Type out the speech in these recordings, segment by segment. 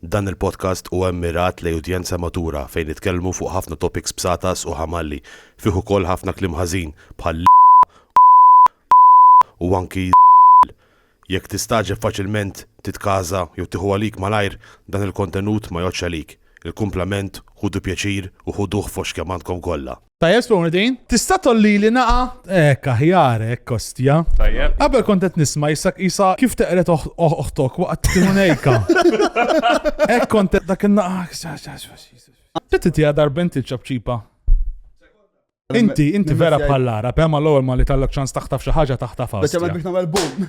Dan il-podcast huwa mmirat lejn udjenza matura fejn nitkellmu fuq ħafna topics bsatas u ħamalli, fih ukoll ħafna kliem ħażin bħal l, u anki z, jekk tistagħġeb faċilment titkaża jew tieħu għalik malajr dan il-kontenut ma jgħoddx għalik, il-kumplament ħudu pjaċir u ħuduh fost kemm għandkom kollha. Tajjeb spawna din. Tista' tolli li naqa? Ek, aħjar, ek, kostja. Tajjeb. Qabel kont qed nisma' jisa jisa kif teqret oħtok waqt timunejka. Ek kont qed dak in-naqa. Titti tiegħek darbent il-ċapċipa. Inti, inti vera bħallara, pema l-ewwel ma li tallok ċans taħtaf xi ħaġa taħtaf Biex għamil biex nagħmel boom.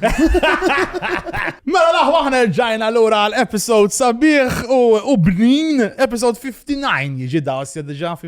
Mela laħwa aħna rġajna lura għal episode sabiħ u bnin, episode 59 jiġi dawsja diġà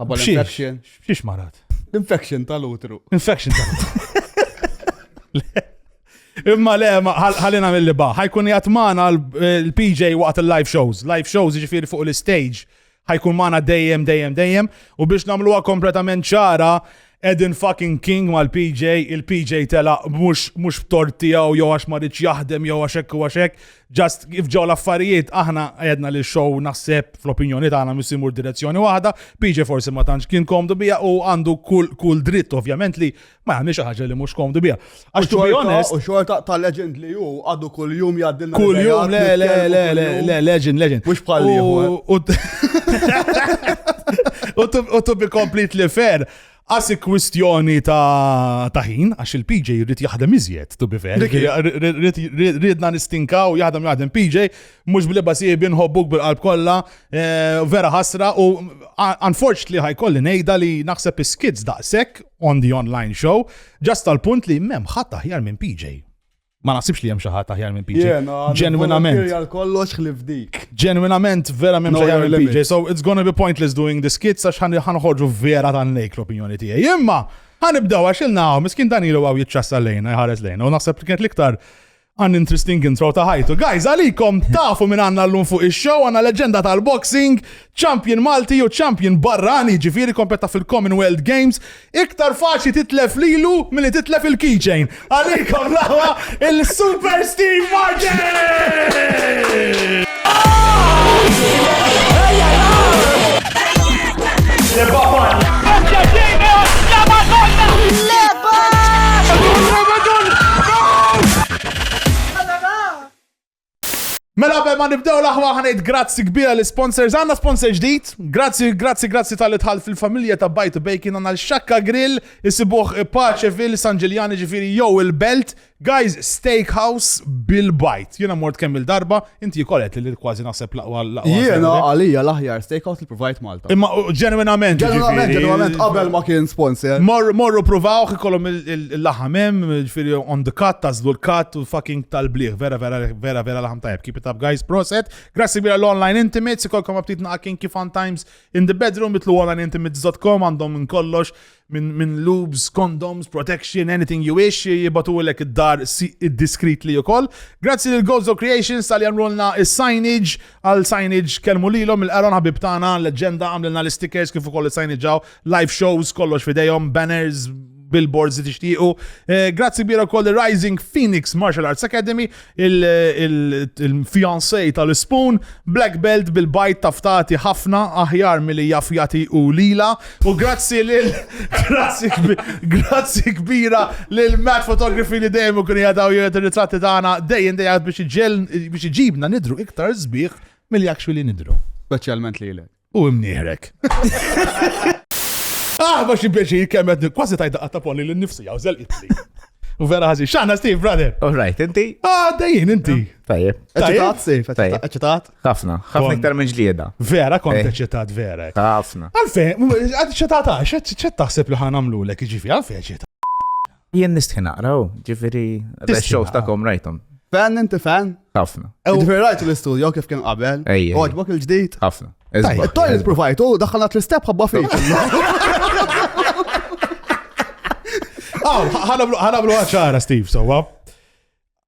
Ħabba l-infection. Xiex marat? Infection tal-utru. Infection tal-utru. Imma le, ħallina mill-li ba. ħajkun jgħat maħna l-PJ waqt il-live shows. Live shows ġifiri fuq l-stage. ħajkun maħna dejjem, dejjem, dejjem. U biex namluwa kompletament ċara, Edin fucking king mal-PJ, il-PJ telaq mhux mhux b'tort tiegħu jew għax ma ridx jaħdem jew għax hekk u għax hekk. Just kif ġew l-affarijiet aħna għedna li show naħseb fl-opinjoni tagħna mhux imur direzzjoni waħda, PJ forsi ma tantx kien komdu biha u għandu kull kull dritt ovvjament li ma jagħmilx xi ħaġa li mhux komdu biha. Għax to be honest. U xorta ta' legend li ju, għadu kull jum jgħaddi l Kull jum, le, le, le, le, le, legend, legend. Mux bħal U to be completely fair, għasi kwistjoni ta' taħin, għax il-PJ rrit jaħdem iżjed, to be fair. Ridna nistinkaw jaħdem jaħdem PJ, Mhux bl-ibba sibi nħobbuk bil-qalb kollha, eh, vera ħasra u unfortunately ħajkolli ngħidha li naħseb is-skids daqshekk on the online show ġast tal-punt li m'hemm ħadd aħjar minn PJ. Ma naħsibx li hemm xi ħadd aħjar minn PJ. Ġenwinament. kollox ħlif dik. Ġenwinament vera m'hemm xi ħadd minn PJ. So it's gonna be pointless doing the skits għax ħanħorġu vera tan lejk l-opinjoni tiegħi. Imma ħanibdew għax il-naw, miskin dan ilu għaw jitċassa lejna, jħares lejna, u naħseb kienet l-iktar An interesting intro ta' ħajtu. Guys, għalikom tafu minn għanna l-lum fuq il-show, għanna leġenda tal-boxing, champion Malti u champion barrani ġifiri kompetta fil-Commonwealth Games. Iktar faċi titlef lilu mill-li titlef il-keychain. Għalikom lawa il-Super Steve Martin! Mela qabel ma nibdew l-aħwa ħanejt grazzi kbira l sponsors għandna sponsor ġdid. Grazzi, grazzi, grazzi tal itħal fil-familja ta' Bajt Bacon għandna l-Xakka Grill, isibuh Paċeville, San Ġiljani ġifieri jew il-Belt, Guys steakhouse bil bite. Jiena mort kemm il darba, inti wkoll qed li kważi naħseb laqwa laqwa. Jiena għalija l-aħjar steakhouse li provajt Malta. Imma ġenwinament. Ġenwinament, ġenwinament qabel ma kien sponsor. Morru provawh ikollhom il-laħam hemm, ġifieri on the cut, tażlu l-cut u fucking tal-bliħ. Vera vera vera vera laħam tajb. Keep it up guys, proset. Grazzi bila l-online intimates, ikolkom aptit naqkin kif on times in the bedroom, bitlu online intimates.com għandhom minn kollox. minn min lubes, condoms, protection, anything you wish, jibatulek id-dar discreetly u koll. Grazzi lil Gozo Creations tal jamrulna il-signage għal signage kelmu lilhom il-qaron ħabib tagħna leġenda għamlilna l-stickers kif ukoll il-signage live shows kollox fidejhom, banners, billboards li tixtiequ. Eh, grazzi bira koll Rising Phoenix Martial Arts Academy il-fiancée tal-ispun, black belt bil-bajd taftati ħafna aħjar milli jaf jagħti hu lilha. U grazzi lil grazzi kbira lil Matt Photography li dejjem ikun jadaw jgħid ir-ritratti tagħna dejjem dejjem biex iġibna nidru iktar sbieħ milli actually nidru. Speċjalment lilek. U imnieħrek. Ah, ma xi pjaċir kemm qed kważi tajda qatta polli lil nifsi jew żelqitli. U vera ħażin. X'għandna Steve, brother? All right, inti? Ah, dejjin inti. Tajjeb. Eċitat, Steve, Tajjeb. eċitat. Ħafna, ħafna Kon- iktar minn ġlieda. Vera kont Eh. eċitat vera. Ħafna. Għalfejn, eċitat għax, eċitat taħseb li ħanamlu lek iġifi, għalfejn eċitat. Jien nistħi naqra, u ġifiri, Tistħi l-shows naqra. ta'kom rajtom. Fan inti fan? Ħafna, Ġifieri rajt l-istudio kif kien qabel. Ej, ej. Għodbok il-ġdid. ħafna. Tajjeb, Isbaħ, Toj isbaħ. il-provajtu, daħħalna tl-istep ħabba fik. Aw, ħanablu ħanablu ċara, Steve, sowa.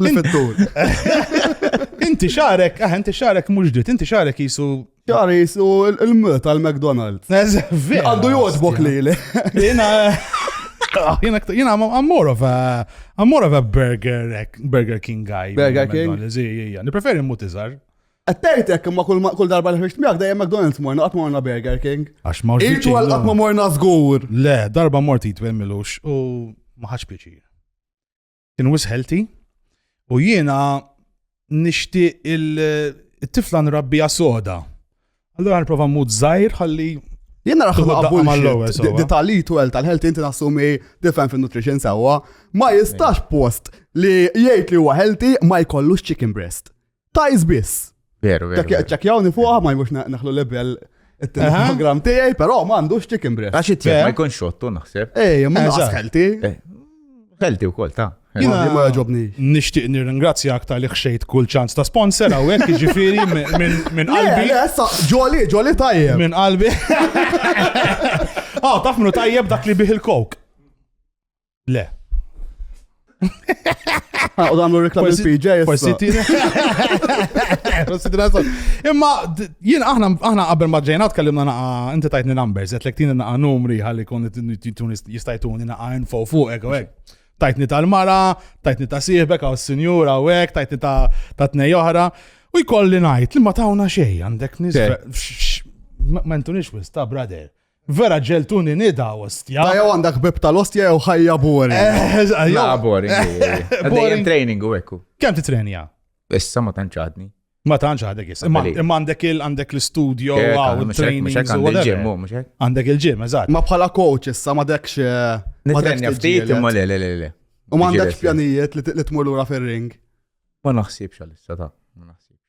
L-fittur. Inti xarek, ah, inti xarek mhux dit, inti xarek jisu Jar jisu il-mut tal-McDonald's. Għandu jodbok li li. Jena, jena għammur of a, għammur of a burger, burger king guy. Burger king? Nipreferi mut iżar. Għattajtek imma kull darba li ħriġt miegħek dejjem McDonald's morna qatt morna Burger King. Għax ma rridx. Irtu għal qatt ma morna żgur. Le, darba mort jitwel milux u ma ħax pjaċir. kien wis healthy u jiena nixtieq il-tifla nrabbija soda. Allura nipprova mmut żgħir ħalli Jena raħħu għabul detali tu għel tal-health inti nassumi different fin nutrition sewa ma jistax post li jgħid li huwa healthy ma jkollux chicken breast. Tajs biss. Veru, veru. Ċekjawni fuqha ma jmux naħlu lebel il-program tiegħi, però ma għandux chicken breast. Għax it ma jkun xottu naħseb. Ej, ma naqas ħelti. Ħelti wkoll ta' Jina ma ġobni. Nishtiq nirringrazzja aktar li xejt kull ċans ta' sponsor għawek, ġifiri minn qalbi. Ġoli, ġoli tajjeb. Minn qalbi. Ah, taf minnu tajjeb dak li bih il-kok. Le. Ah, u għamlu reklam il-PJ. Forsi tira. Forsi tira sol. Imma jien aħna aħna qabel ma ġejna tkellimna naqa inti tajtni numbers, qed lek tieni naqa numri ħalli kun jistajtuni naqa info fuq hekk u hekk. Tajtni tal-mara, tajtni ta' sieħbek għaw s-sinjura u hekk, tajtni ta' tnej oħra. U jkolli ngħid li ma tawna xejn għandek nisra. Ma ntunix wis ta' brother. Vera ġeltuni nida ostja. Dajaw għandak bib tal-ostja jew ħajja boring. Eh, eh, ja, boring. Għadajem training u ekku. Kem titrenja? Issa ma tanċadni. Ma tanċ għadek jis. Imma għandek il għandek l-studio, għaw, il-training. Għandek il-ġim, eżat. Ma bħala coach issa ma dekx. Eh, ma dekx ftit, imma le, le, le, le. U ma għandekx pjanijiet li tmur lura fil-ring. Ma naħsibx għal-issa ta' ma naħsibx.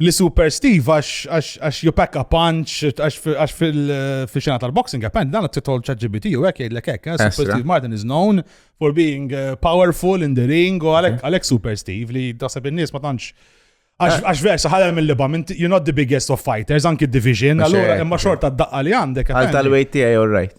li super Steve għax you pack a punch għax fil-xena tal-boxing għapen dan t-titol ċaġibiti u għek jgħidlek għek eh, super Steve Martin is known for being eh, powerful in the ring u għalek super Steve li dasab il-nis ma tantx Għax eh. versa ħalem mill-liba, you're not the biggest of fighters, anki division, allura imma xorta d-daqqa li għandek. Għal tal-wejt tijaj, all right.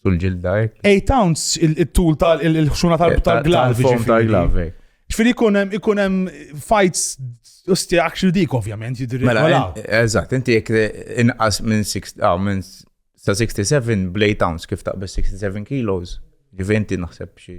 sul ġilda hekk. 8 ounce il-tul tal-ħxuna tal-glav. Tal-fom tal-glav. Ġifieri ikun hemm ikun hemm fights Usti actually dik ovvjament jidri. Mela, eżatt, inti jek inqas minn 67 ah, blade ounce kif taqbes 67 kilos, ġiventi naħseb xie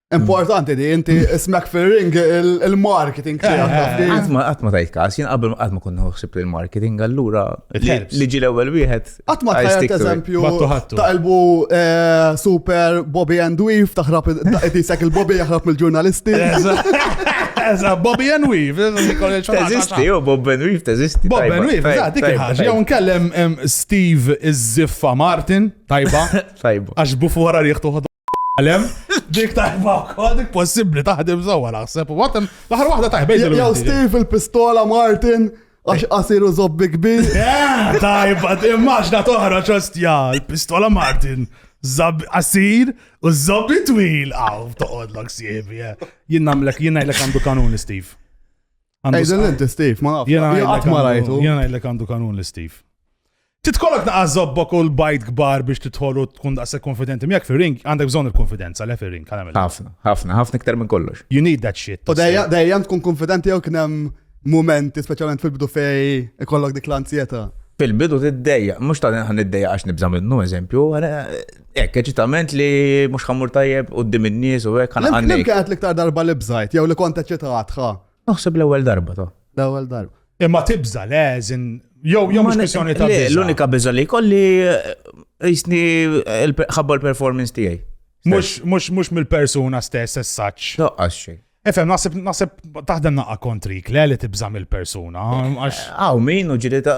Importanti di, inti smek fil-ring il-marketing tiegħek. Għatma għatma tajt kas, jien qabel għatma kun nħuħsib li l-marketing għallura li ġi l-ewwel wieħed. Għatma tajt eżempju ta' elbu eh, super Bobby and Weave taħrab tisek il-Bobby jaħrab mill-ġurnalisti. Eża, Bobby and Weave. Teżisti, u Bob and Weave teżisti. Bob and Weave, eża, dik ħaġa. Jew nkellem Steve iż-Ziffa Martin, tajba. Tajba. Għax bufu wara riħtu Għalem, dik tajba wkoll, dik possibbli taħdem sewwa naħseb. Watem, l-aħħar waħda tajba. Jew Steve il-pistola Martin għax qasiru zobbi kbir. Eh, tajba, immaġna toħra ċostja, il-pistola Martin. Zab qasir u zobbi twil. Aw, toqodlok siebi. Eh. Jien namlek, jien ngħidlek għandu kanuni, Steve. Għajden l-inti, Steve, ma nafx. Jena għat ma rajtu. Jena għajlek għandu kanun li Steve. Titkollok naqqa zobbok u l-bajt kbar biex titħolu tkun daqse konfidenti. Mjak fi ring, għandek bżon il-konfidenza, le fi ring, għamil. Ħafna, ħafna, ħafna iktar minn kollox. You need that shit. U dejja tkun konfidenti jew kienem momenti, specialment fil-bidu fej, ikollok dik l-anzjeta. Fil-bidu t-dejja, mux ta' nħan id-dejja għax nibza minnu, eżempju, Ek, eċitament li mux ħammur tajjeb u d-dim il-niz u ek ħana għanni. Kien għat liktar darba li bżajt, jew li konta ċitat, ħa. Naħseb l-ewel darba, ta. L-ewel darba. Imma tibza, le, zin, jew jew mux kwestjoni ta' bizza. L-unika bizza li kolli eh, jisni eh, ħabba l-performance tijaj. Mux, mux, mux mill-persuna stess, as such. No, xej. Efem, nasib, nasib taħdem naqqa kontrik, le li tibza mill-persuna. Għaw, min u ġiri ta'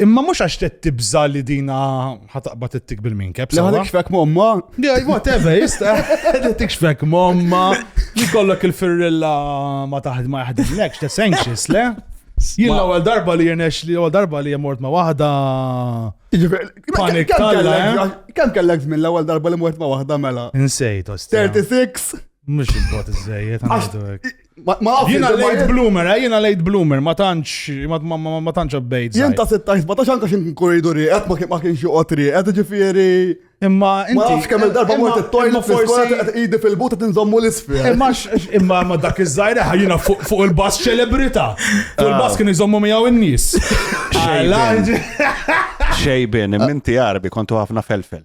Imma mhux għax qed tibża li dina ħataqbad ittik bil-minkep. Le ħadek xfek momma. Jaj, whatever, jista. Ħadek xfek momma. Jkollok il-firrilla ma taħd ma jaħdimlekx, that's anxious, le? Jien l-ewwel darba li jirnex li ewwel darba li jemort ma waħda. Panik talla. Eh? Kemm kellek żmien l-ewwel darba li mort ma waħda mela? Insejt, 36. Mux il-bot iż-żejjed, għandu Jina late bloomer, eh, jina late bloomer, ma tantx, ma tantx updates. Jien ta' 16, ma tantx anka xin koridori, għet ma kienx joqotri, għet ġifiri. Imma inti. Ma kemm il-darba mort it-toilet forsi qed idi fil-buta tinżommu l-isfel. Imma imma ma dak iż-żgħira ħajjina fuq il-bass ċelebrita. Fuq il-bass ah. kien iżommu miegħu n-nies. Xejbin, minti għarbi kontu ħafna felfel.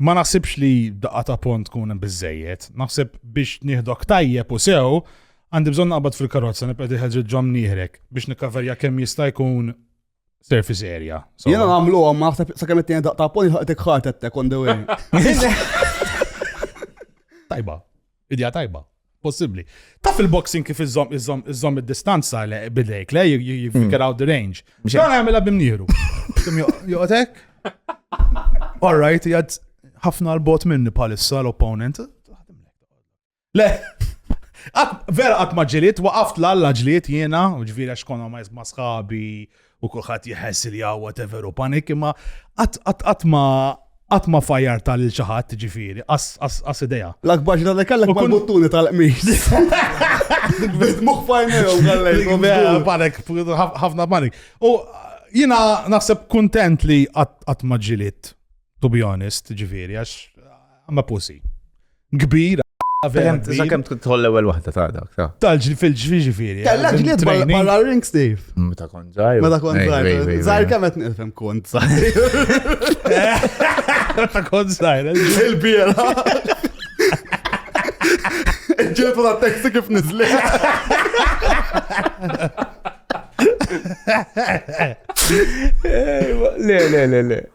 Ma naħsibx li daqqa ta' pont tkun hemm biżejjed. Naħseb biex nieħdok tajjeb u sew, għandi bżonn naqbad fil-karozza nibqa' diħel ġid ġom nieħrek biex nikkaverja kemm jista' jkun surface area. Jiena nagħmlu għom naħseb sakemm it-tieni daqqa ta' pont jħaqtek ħartettek on the way. Tajba. Idea tajba. Possibbli. Taf il-boxing kif iżżomm iżżomm iżżomm id-distanza le bidejk le you- you you figure out the range. Biex Dan għamilha bimnieru. Joqtek? All right, jgħad ħafna l-bot minni palissa l-opponent. Le, għat- vera għat maġġiliet, waqaft l-alla ġliet jiena, ġviri għax konna ma jizma sħabi u kulħadd jħess li hawn whatever u panik imma qatt ma qatt ma fajar tal xi ħadd ġifieri, qas idea. L-akbar ġra li kellek ma buttuni tal-qmis. Bit moħħ fajnejhom għallejkom. Panik, ħafna panik. U jina naħseb kontent li qatt ma ġilit, to be honest, ġifieri, għax I'm a pussy. kbir Sakemm tħol l-ewwel waħda ta' dak ta'. Tal-ġli fil-ġifieri. Kellha ġli barra ring Steve. Meta kont ġaj. Meta kont ġaj. Żgħir kemm qed nifhem kont żgħir. Meta kont żgħir. Il-biera. Ġiltu ta' teksti kif nizli. Le, le, le, le.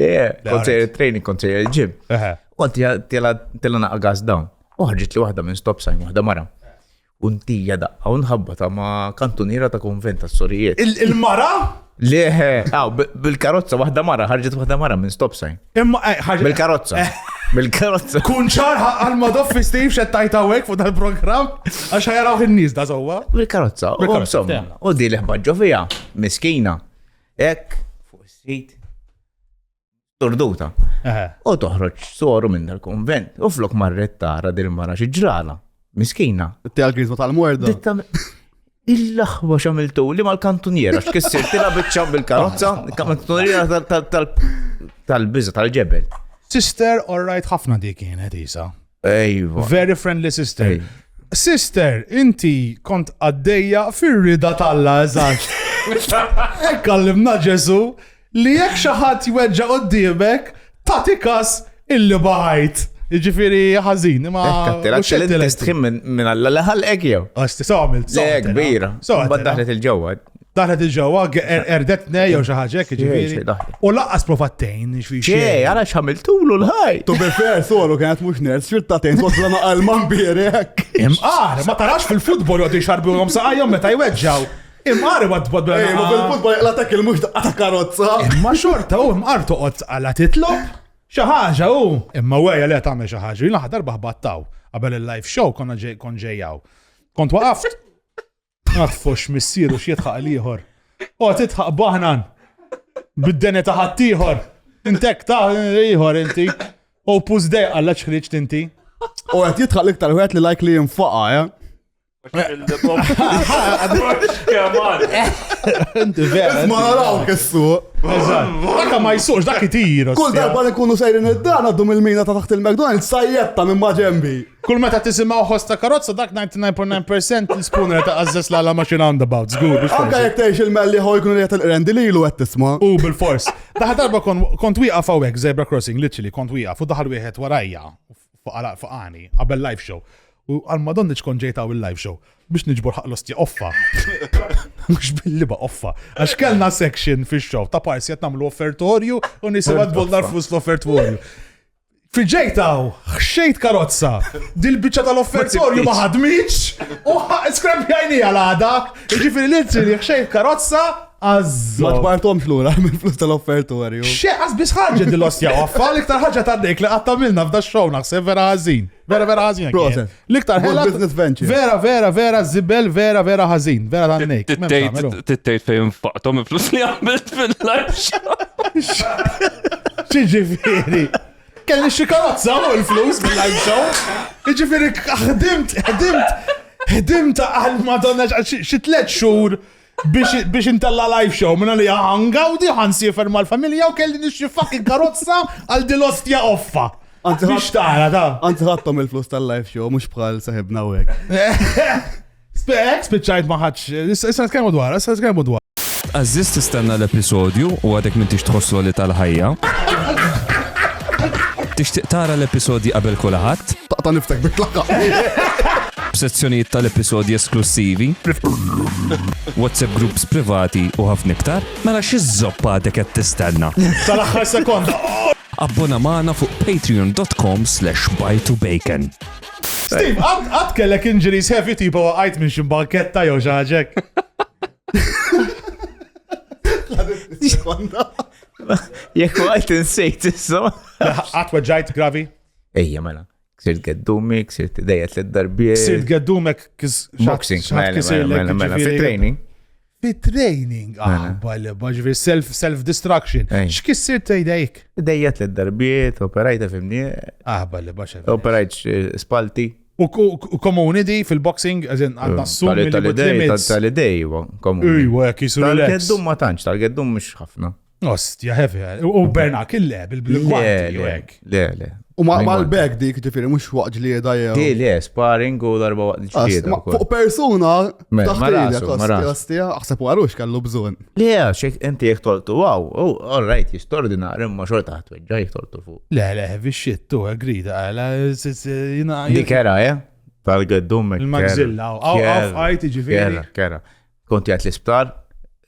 Le, kont sejjer il-training, kont sejjer il-ġim. Kont tela naqqa gas dawn. Uħġit li waħda minn stop sign, waħda mara. Untija daqqa, unħabba ta' ma' kantuniera ta' konventa s-sorijiet. Il-mara? Leħe, għaw, bil-karozza, wahda mara, ħarġet wahda mara minn stop sign. Imma, eh, ħarġet. Bil-karozza. Eh. Bil-karozza. Kun ċar għal-madoff fi Steve xed tajta għek fuq dal-program, għax ħajaraw il-nis da zowa. Bil-karozza, u għomsom. U di liħba ġovija, miskina. Hekk fuq is-sit turduta. U toħroġ soru minn dal-konvent. U flok marret tara dil mara xi ġrala. Miskina. Tela l-krizma tal-morda. Il-laħwa xamiltu li mal-kantuniera, x'kissir tila biċċam bil-karozza, kantuniera tal-biża tal-ġebel. Sister, all right, ħafna dik kienet isa. Ejwa. Very friendly sister. Sister, inti kont għaddejja fir-rida tal-la eżax. Ekk għallimna Ġesu li jekk xi ħadd jweġġa' qudiemek tagħti kas illi baħajt. Ġifiri ħazin, ma. Tħim minn għalla leħal ek jew. Għasti, sawmilt. Le, kbira. Sawmilt. Daħlet il-ġewwa. Daħlet il-ġewwa, erdetne jew xi ħaġa hekk ġifieri. U laqqas provattejn xi xejn. Għala x'għamiltulu l-ħaj. Tu bil fair solu kienet mhux ners, xirtatejn kosra ma qalma mbierek. Imqar, ma tarax fil-futbol jgħod jxarbihom saqajhom meta jweġġaw. Imqar ma tbod bil Ma bil-futbol jaqla dak il-mhux daqqa ta' karozza. Imma xorta u imqar toqgħod għala titlob. Xi ħaġa u. Imma wejja li tagħmel xi ħaġa, jien aħdar baħbattaw. Qabel il-live show konna ġejjaw. Kont waqaft Għad fox missieru x'jidħaq l-ieħor. O tidħaq baħnan bid-dene ta' ħaddieħor. Intek ta' ieħor inti. O pus dej għalla ċħriċ tinti. U għed jitħaq l-iktar għed li lajk li jinfaqa, ja? Inti vera. Ma naraw kissu. Dak ma jisux, dak itir. Kull darba li kunu sejrin id-dan għaddum il-mina ta' taħt il-McDonald's sajjetta minn maġembi. Kull meta tisimgħu ħoss ta' karozza dak 99.9 percent l-spooner ta' għażżeż la la machine roundabout, żgur. biex Anka forsi. jekk tgħix il-melli ħoj kun li qed li ilu qed tisma'. U bil-fors. Daħal darba kon- kont wieqaf hawnhekk zebra crossing, literally kont wieqaf u daħal wieħed warajja fuq għala- fuq għani qabel live show. U għal madonni ċkun ġejt hawn il-live show biex niġbor ħaq l-ostja offa. Mhux bil-liba offa. Għax kellna section fix-show ta' parsi qed nagħmlu offertorju u nisimgħu tbollar flus l-offertorju. Fil-ġej ta' hawn, ħxejt karozza. Dil-biċċa tal-offertorju ma ħadmitx u skrempjajnija l-għada. Jiġifieri l-iltri li ħxejt karozza Azzo. Ma ġbartomx lura minn flus tal-offertorju. Xe, għazbis ħagġa dil-ostja għaffa, l-iktar ħagġa ta' dik li għattamilna f'da xow naħseb vera għazin. Vera vera għazin. Proset. L-iktar ħela. Business venture. Vera, vera, vera, zibel, vera, vera, ħazin. Vera ta' nejk. Tittejt fejn faqtom flus li għamilt fil-live Ċiġifiri. Kelli xie karozza u l-flus fil-live show. Ċiġifiri, ħdimt, ħdimt, ħdimt għal madonna xie tlet xur. biex intella live show minna li għangawdi għan sifer mal-familja u kelli nixxi fucking karozza għal dil-ostja offa. Biex tara, ta' Għant ħattom il-flus tal-live show, mux bħal saħibna u għek. Spek, spiċajt maħħaċ, issa t-kemmu dwar, issa t-kemmu dwar. Għazziz tistenna l-episodju u għadek minn tix tħosslu li tal-ħajja. Tixtiq tara l-episodji qabel kulaħat? Taqta niftek bit-tlaqqa. b'sezzjonijiet tal-episodji esklussivi, WhatsApp groups privati u ħafna iktar, mela xi żopp għadek qed tistenna? Tal-aħħar sekonda. Abbona magħna fuq patreon.com/bajtubacon. Steve, għad kellek injuries heavy tipa waqajt minn xi banketta jew xi ħaġek. Jekk waqajt insejt issa. Għad weġġajt gravi. Ejja mela. Ksirt geddumi, ksirt idejja tliet darbiet. Ksirt geddumek boxing, mela, mela, mela, mela fit training. Fit training, mela. ah, bale, baġvi self, self destruction. X'kissir tejdejk? Idejja tliet darbiet, operajta fimni. Ah, bale, baxa. Operajt eh, spalti. U komuni di fil-boxing, għazin għadna eh, s-sum. Tal-idej, tal-idej, komuni. Ujwa, kisru. Tal-geddum ma tanċ, tal-geddum mux ħafna. Ostja, heavy. U Bernak il-leb, il-gwanti, u hekk. Le, le. U ma l-bag dik ġifiri, mux waqt ġlieda jew. Di, le, sparring u darba waqt ġlieda. Fuq persuna, taħtija, ostja, aħseb u għarux kallu bżon. Le, xek inti jek toltu, wow, oh, all right, jistordinar, imma xor taħt weġġa jek toltu fuq. Le, le, heavy shit, tu, agrida, għala, jina. Di kera, eh? Tal-għeddum. Il-magzilla, għaw, għaw, għajti ġifiri. Kera, kera. Konti għat l-isptar,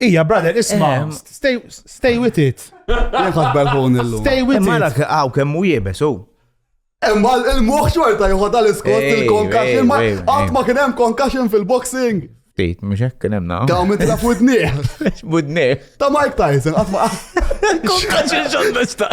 Ija, brother, isma, eh, stay, stay with it. Jenħat belħun il Stay with it. Mara għaw kemm u jibes, u. Imma il-muħ xorta jħod għal-iskot il-concussion, ma għat ma kienem concussion fil-boxing. Tejt, mux hekk kienem na. Daw minn tilaf budniħ. Budniħ. Ta' Mike Tyson, għat ma. Concussion xon biex ta'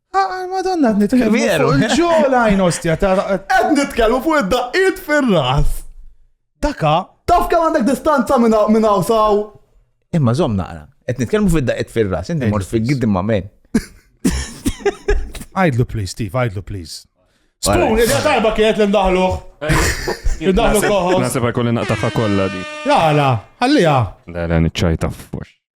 Ah, ah, Madonna, għad nitkellmu Veru. fuq il-ġola jnostja ta' Qed nitkellmu fuq id-daqqiet fir-ras. daka. Taf kemm għandek distanza minn hawn- minn hawn saw? Imma zom naqra. Qed nitkellmu fid-daqqiet fir-ras, inti mort fil-giddim ma' men. Għajdlu please, Steve, għajdlu please. Spoon, id darba kienet li ndaħluħ. Id-daħlu koħos. Nasib għakolli naqtaħħa kollha di. Jala, għallija. Le, le, niċċajta fux.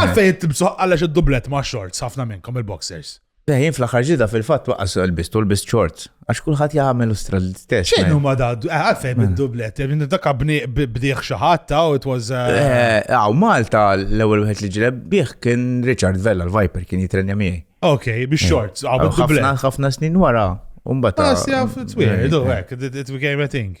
Għalfej int tibsuħ għalax id-dublet ma' shorts ħafna minnkom il-boxers. Le, jien fl-aħħar ġida fil-fatt waqqas l-bist u l-bist shorts. Għax kulħadd jagħmel ustra l-istess. Xejn huma da, eh, għalfej hmm. bid-dublet, eh, dak bdieħ xi ħadd u it was. Għaw eh, Malta l-ewwel wieħed li ġileb bih kien Richard Vella l-Viper kien jitrenja miegħi. Ok, bi shorts, għaw bid-dublet. Ħafna snin wara, u mbagħad. Għas jaf, it's weird, it became a thing.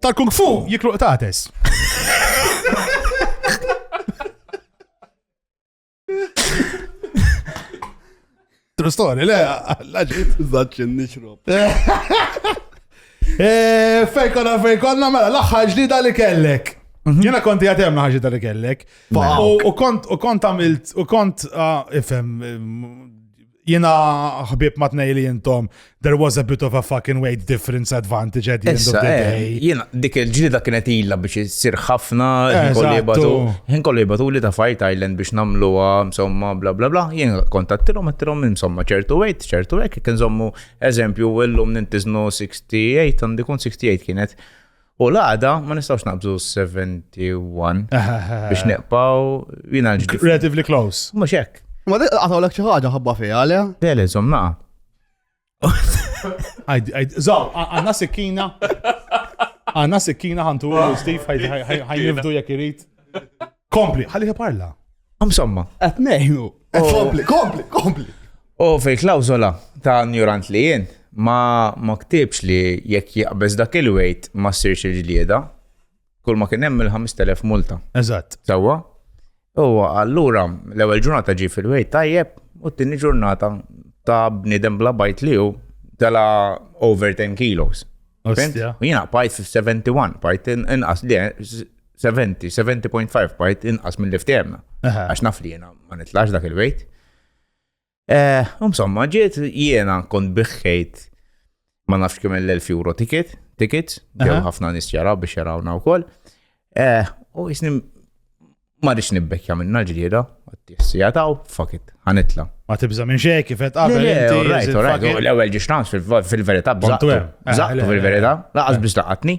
Tal-kung fu jiklu qtates. True story, le, laġit. Zaċċin nixrob. Eh, fejn konna fejn konna, mela, l-axħar ġdida li kellek. Mhm. Jena konti għatem ħagġita li kellek. U kont, u kont għamilt, u kont, ah, ifem, Jena ħbib ma tnej li jintom, there was a bit of a fucking weight difference advantage at the end of the eh, day. Jena, dik il-ġlida kienet illa biex jisir ħafna, jien kollu jibatu li ta' Fight Island biex namlu insomma, bla bla bla, jien kontattilom, għattilom, insomma, ċertu weight, ċertu weight, kien zommu, eżempju, l-lum nintiznu 68, għandikun 68 kienet. U l-għada ma nistgħux naqbżu 71 biex neqpaw jiena l-ġdid. Relatively close. Mhux hekk. Ma għataw l xi ħaġa ħabba fiha le? Le le żomm naqa. Żomm, għandna sikkina. Għandna sikkina ħantu Steve ħajnifdu jekk irid. Kompli, ħalli parla. Insomma. Qed ngħinu. Oh. Kompli, kompli, kompli. U oh, fil klawzola ta' njurant li jien ma ma ktibx li jekk jaqbeż dak il-wejt ma ssirx il-ġlieda. Kull ma kien hemm il-5000 multa. Eżatt. Sewwa. U allura l-ewwel ġurnata ġi fil-wejt tajjeb u t-tieni ġurnata ta' bniedem bla bajt li hu tela over 10 kilos. U jina bajt 71, bajt inqas li 70, 70.5 point inqas minn li ftehemna. Għax naf li jena ma nitlax dak il-wejt. Eh, insomma, ġiet jiena kont biħħejt ma nafx kemm l-1000 euro ticket, tickets, ġew ħafna nis jaraw biex jarawna wkoll. Eh, u jisni ma rix nibbekja minna ġlieda, għattissi għataw, fuck it, ħanitla. Ma tibza minn xej kif qed qabel inti. L-ewwel ġiex fil-verità bżaqtu. Bżaqtu eh, fil-verità, laqas biex laqatni.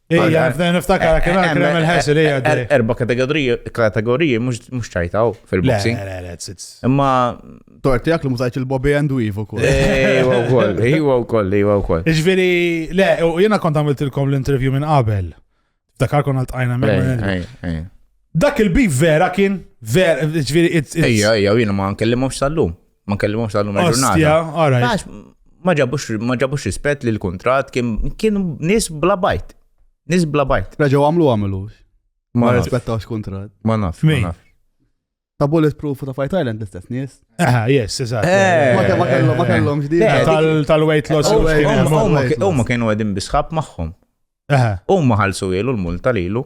Ija, f'dan niftakar kien għal il-ħesir ija. Erba kategoriji mux ċajtaw fil-boxing. Imma. Torti għak li mużajt il-Bobby and Weave u koll. Ejwa u koll, ejwa u koll, ejwa u koll. Iġveri, le, jena kont għamiltilkom l-intervju minn qabel. F'dakar kon għal-tajna minn. Dak il-bif vera kien, vera, ġviri, Ejja, ejja, jena ma' nkellimomx sal-lum. Ma nkellimhomx tal numru ġurnata. Ma ġabux rispett li l-kontrat kienu nis bla bajt. Nis bla bajt. Reġaw għamlu għamlu. Ma rispettawx kontrat. Ma naf. Min? Ta' Bulletproof ta' Fight Island l-istess nies. Aha, eh, yes, eżatt. Eh. Ma kellhom ma kellhom ġdid. Eh, tal-weight loss. Huma kienu qegħdin bisħab magħhom. Huma ħalsu ilu l-multa lilu.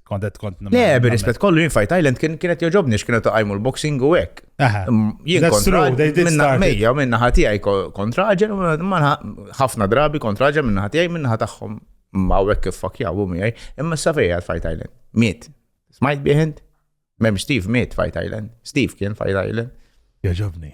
Kont qed kont Le, bir-rispett kollu jien Fight Island kien kienet joġobni x'kienet taqajmu l-boxing u hekk. Jien kontra minna mejja minna ħatijaj kontra ġen ħafna drabi kontra ġen minna ħatijaj minna ħataħħom ma' hekk kif fakjaw u miegħi imma s safejja Fight Island. Miet. Smajt biħend? Mem Steve miet Fight Island. Steve kien Fight Island. Joġobni.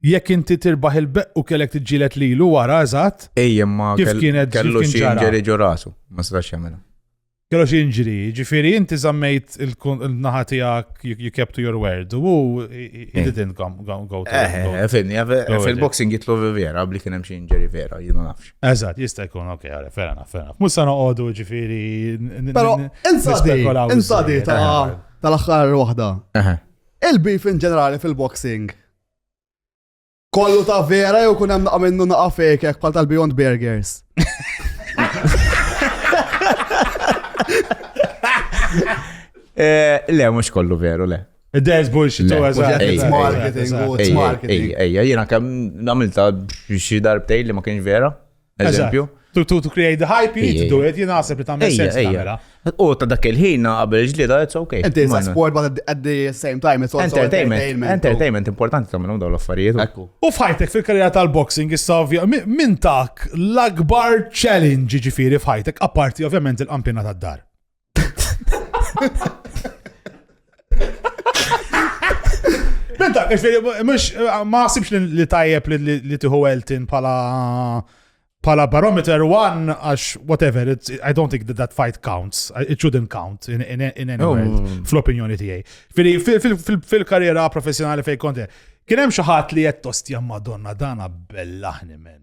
Jekk inti tirbaħ il-beqq u kellek tiġġieled lilu wara eżatt. Ej imma kif kienet kellu xi jinġeri ġo rasu, ma setax jagħmilha. Kellu xi jinġri, ġifieri inti żammejt il-naħa tiegħek you kept to your word u he didn't go to. Eh, eh, eh, fil-boxing jitlu vera, bli kien hemm xi jinġeri vera, jien ma nafx. Eżatt, jista' jkun, ok, għara, ferra naf, ferra naf. Mhux se noqogħdu ġifieri. Però insadi ta' tal-aħħar waħda. Il-beef in ġenerali fil-boxing Kollu ta' vera jew kun hemm naqa' minnu naqa' fejk hekk bħal tal-Beyond Burgers. Eh, le, mhux kollu veru, le. There's bullshit, Le, eżatt. ejja, It's marketing, ejja, u it's ejja, marketing. Ejja, ejja, jiena kemm nagħmilta xi darbtej li ma kienx vera. Eżempju. To, to, to create the hype, you need to do it, jien naħseb li tagħmel sens tagħmela. U ta' dak il-ħin qabel ġlieda, it's okay. Inti sa sport but at the same time it's also entertainment. Entertainment importanti tagħmel dawn l-affarijiet. U f'ħajtek fil-karriera tal-boxing issa ovvja minn tak l-akbar challenge ġifieri f'ħajtek apparti ovvjament il-kampjona tad-dar. Benta, mux ma sibx li tajjeb li tiħu Elton pala pala barometer one għax whatever, it's, I don't think that that fight counts. It shouldn't count in, in, in any oh. world, fl-opinjoni tijaj. Fil-karriera professjonali fej konti, kienem xaħat li jett ostja madonna dana bellaħni men.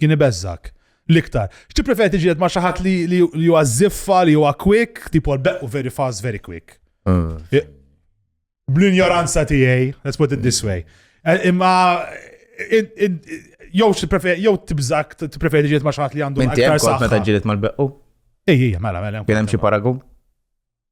Kien ibeżżgħek. L-iktar. X'tippreferi tiġieled ma' xi ħadd li huwa żiffa, li huwa quick, tipo l-beqqu very fast, very quick. Bl-injoranza tiegħi, let's put it this way. Eh, imma jew x'tippreferi jew tibżak tippreferi tiġieled ma' xi ħadd li għandu aktar saħħa. Meta ġieled mal-beqqu? Ej, ej, mela, mela. Kien hemm xi paragun?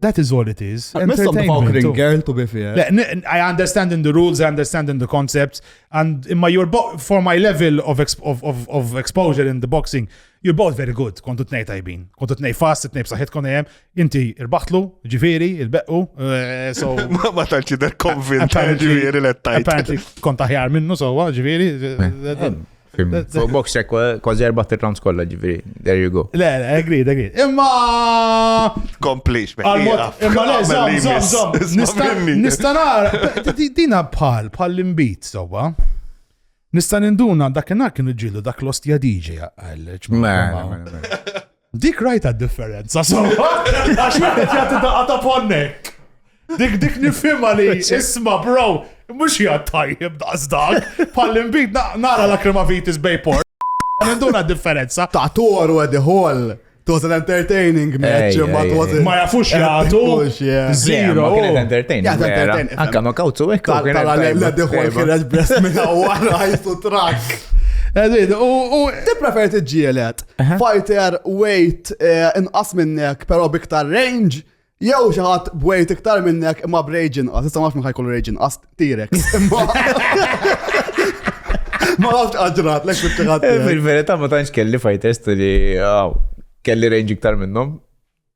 That is all it is. Entertainment. girl to be fair. I understand in the rules, I understand in the concepts, and in my your for my level of, exp of, of, of exposure in the boxing, you're both very good. Kontu tnej tajbin. Kontu tnej fast, tnej b'saħħit kon hemm. Inti irbaħtlu, ġifieri, il-beqqu. Eh, so ma tantx idher konvint ġifieri let tajt. Apparently kont aħjar minnu sewwa, ġifieri. Eh, eh, Box check, kważi erba t-trans kolla ġifiri, there you go. Le, le, agree, agree. Imma. Komplix, Imma le, zom, zom, zom. Nistanar, dina bħal, bħal l-imbit, soba. Nista ninduna dak kienu ġilu dak l-ostja DJ għal. Dik rajta differenza, so. Għax wieħed jagħti daqqa ta' ponnek. Dik dik nifhimha li isma' bro, mhux hija tajjeb daqs dak, bħall-imbid nara la kremavitis bejpor. Għanduna differenza. Ta' toru għedi hall. It was an entertaining match, ma it was Ma jafux jgħatu. Zero. Ma kienet entertaining. Jgħat entertaining. Anka ma kawtu ekk. Tala l-għeddi għol kienet brest minna u għara jgħajtu trak. Edin, u. Ti prefer t-ġielet. Fighter weight eh, inqas minnek pero biktar range, jew xi ħadd b'weight iktar minnek imma b'rage inqas, issa ma nafx ħajkollu rage inqas tirek. Ma nafx għaġrat, lek xi ħadd. Eh, fil-verità ma tantx kelli fighters li kelli range iktar minnhom.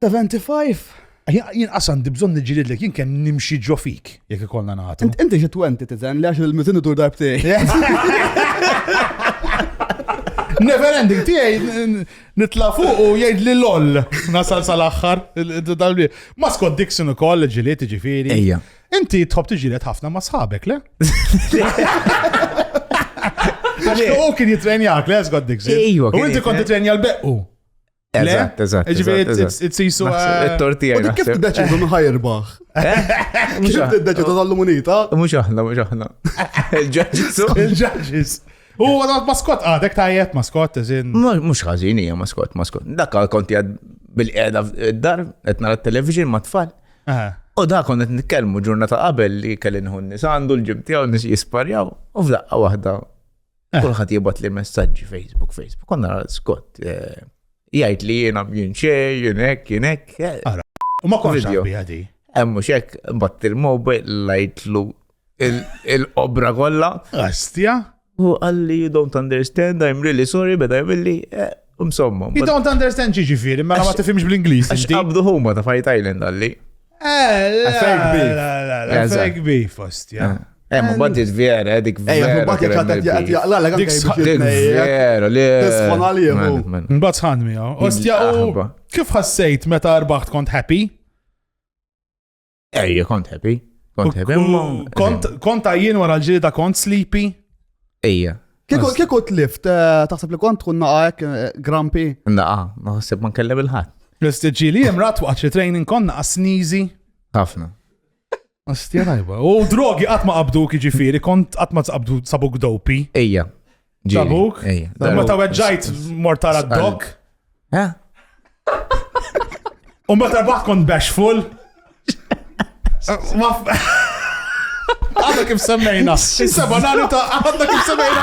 75? Jien qas għandi bżonn niġġielidlek, jien kemm nimxi ġo fik, jekk ikollna nagħtu. Inti xi 20 tiżen li għax il-miżin idur darbtej. Never ending tiegħi nitla' fuq u jgħid li loll nasal sal-aħħar. Ma Scott Dixon ukoll ġiliet ġifieri. Ejja. Inti tħobb tiġilet ħafna ma' sħabek, le? Għax u kien jitrenjak, le Scott Dixon. Ejja. U inti kont titrenja l-beqqu. Eżatt, eżatt. Ġifieri t-sisu. It-tortija. U kif tiddeċidu minn ħajrbaħ? Mhux tiddeċidu tal-lumunita? Mhux aħna, mhux aħna. Il-ġaġġis. Il-ġaġġis. U għadha maskot għadek tajjeb maskot, eżin. Mhux ħażin hija maskot, maskot. Dak konti għad bil-qiegħda d-dar, qed nara t-television ma' tfal. U da konnet nitkellmu ġurnata qabel li kelli nħun nis għandu l-ġim tiegħu nis jisparjaw u f'daqqa waħda Eh. Kulħadd jibgħat li messaġġi Facebook, Facebook. Konna Scott eh, jgħid li jiena jien xej, jien hekk, jien hekk. Eh. U ma konx bija di. Hemm mhux hekk batt il-mobile lajtlu il-obra kollha. Astja? U għalli you don't understand, I'm really sorry, beda jgħamilli, Insomma. You don't understand ġi ġifiri, ma ma tifimx bl-Inglis. Għax qabdu huma ta' Fight Island għalli. Affek bi. Affek bi fost, ja. Eh, ma bad dik vera, eh, dik eh, vera. Eh, ma bad jgħat jgħat jgħat la, dik vera, li. Tisħon għalimu. Mbad sħan mi, Ostja, kif ħassejt meta arbaħt kont happy? Ej, kont happy. Kont happy. Kont għajjien wara l-ġilida kont sleepy. Ejja. Kieku t-lift, eh, taħseb li kont tkun naqajk eh, grampi? Naqa, ma ħseb ma nkellem il-ħat. L-istiġi li jem rat waqt li training kon naqa snizi. Ħafna. Astja tajba. U drogi għat ma qabdu kħiġifiri, kont għat ma qabdu sabuk dopi. Ejja. Tabuk? Ma ta' weġġajt mortara d-dok? Eh? U ma ta' kont bashful? Għadda kif semmejna. Seba nani ta' għadda kif semmejna.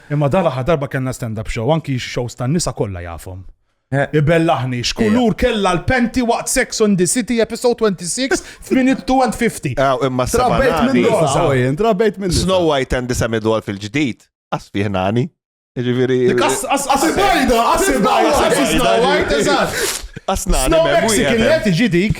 Imma dan l-aħħar darba kellna stand up show, anki x-shows tan-nisa kollha jafhom. Ibellaħni x'kulur kellha l-panty waqt Sex on the City episode 26 f'minute 2 and 50. Aw, imma s-seba' Trabejt nani. minn rosa. Saw jien, trabejt minn Snow White and the Semi-Doll fil-ġdid, qas fih nani. Ġifieri. Dik as as as Asibajda, asibajda, Asibajda, Snow White, eżatt. Qas nani Snow m'hemm Mexican li wieħed. qed iġi dik.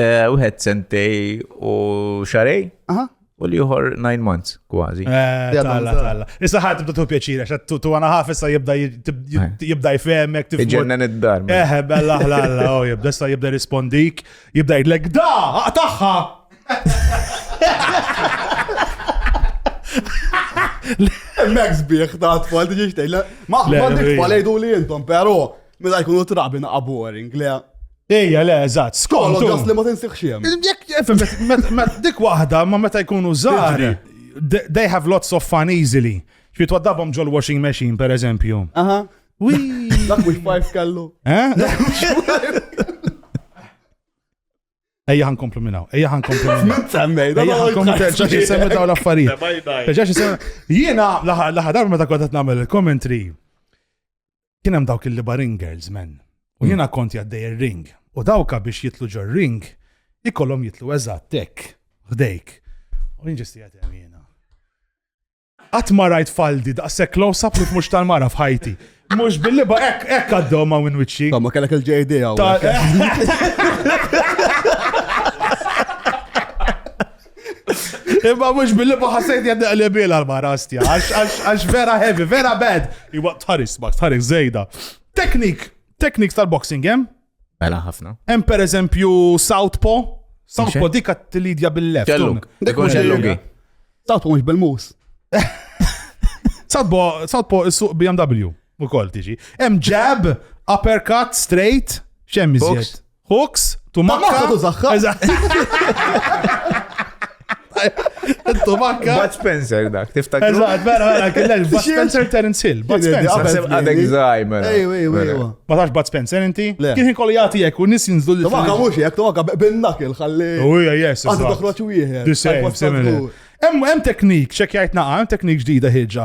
Eh, wieħed sentej u xarej. Aha. U li uħor 9 months, kważi. Eh, talla, talla. Issa ħat tibda tu pjaċira, xa tu għana ħaf issa jibda jibda jfemek. Iġenna nid-dar. Eh, bella ħlalla, u oh, jibda issa jibda rispondik, jibda jidlek, da, għataħħa! Max bieħ ta' tfal, tiġi xtejla. Ma, ma' tfal jgħidu li jintom, pero, mela jkunu trabi naqqa boring, le. Ejja, le, eżatt, skont. Kollu ġas li ma tinsiħx jem. Jekk, dik waħda, ma meta jkunu żgħar, they have lots of fun easily. Xi twaddabhom ġol washing machine, per eżempju. Aha. Wii. Dak mhux pajf kellu. Eh? Ejja ħan komplu minnaw, ejja ħan komplu minnaw. Semmej, da ħan komplu terġa xie semmi daw l-affarijiet. Terġa xie semmi. Jiena laħadar meta kontat namel il-commentary. kien hemm dawk il-liba ring girls men. U jiena kont jaddej ir-ring. U dawka biex jitlu ġo ring ikollhom jitlu eżatt hekk ħdejk. U jien ġisti qed hemm jiena. Qatt ma rajt faldi daqshekk close up li mhux tal-mara f'ħajti. Mhux bil-liba hekk hekk għaddew ma' minn wiċċi. Ma kellek il-JD hawn. Imma mux billi maħasajt jadda li bil għal-mara stja, għax vera heavy, vera bad. Iwa tħaris, ma tħaris zejda. Teknik, teknik tal-boxing, jem? Mela ħafna. Hemm per eżempju Southpaw, Southpaw dika t-lidja bil-left. Kelluk, dekun kelluk. Southpaw mux bil-mus. Southpaw, Southpaw is-suq BMW. Ukoll tiġi. Hemm jab, uppercut, straight, x'hemm iżjed? Hooks, tumakka. Tumakka. Bud Spencer dak, tiftakru? Eżatt, vera, vera, kellel Bud Spencer Terence Hill. Bud Spencer. Għadek zajmer. Ejwa, ejwa, ejwa. Ma tax Bud Spencer inti? Kien kien kolli jagħti jekk u nis jinżlu li. Tumakka mhux jekk, tumakka bin-nak il-ħalli. U hija jes. Għadu toħroġ wieħed. Hemm teknik, xek jgħid naqa, hemm teknik ġdida ħiġa.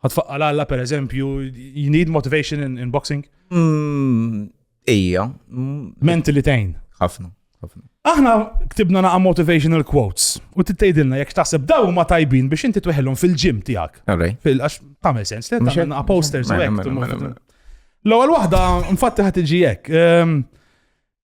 Għatfaqqa l-għalla, per eżempju, you need motivation in, in boxing? Mm, ija. Mm, Mentally tejn. ħafna, ħafna. Aħna ktibna naqa motivational quotes u tittejdilna jekk taħseb daw ma tajbin biex inti tweħilhom fil-ġim tiegħek. Alright. Fil-għax tamel sens, li Mhux hekk? naqa posters u Mela, hekk. mela, tumma- mela, mela. L-ewwel waħda mfatti ħad tiġi hekk. ehm,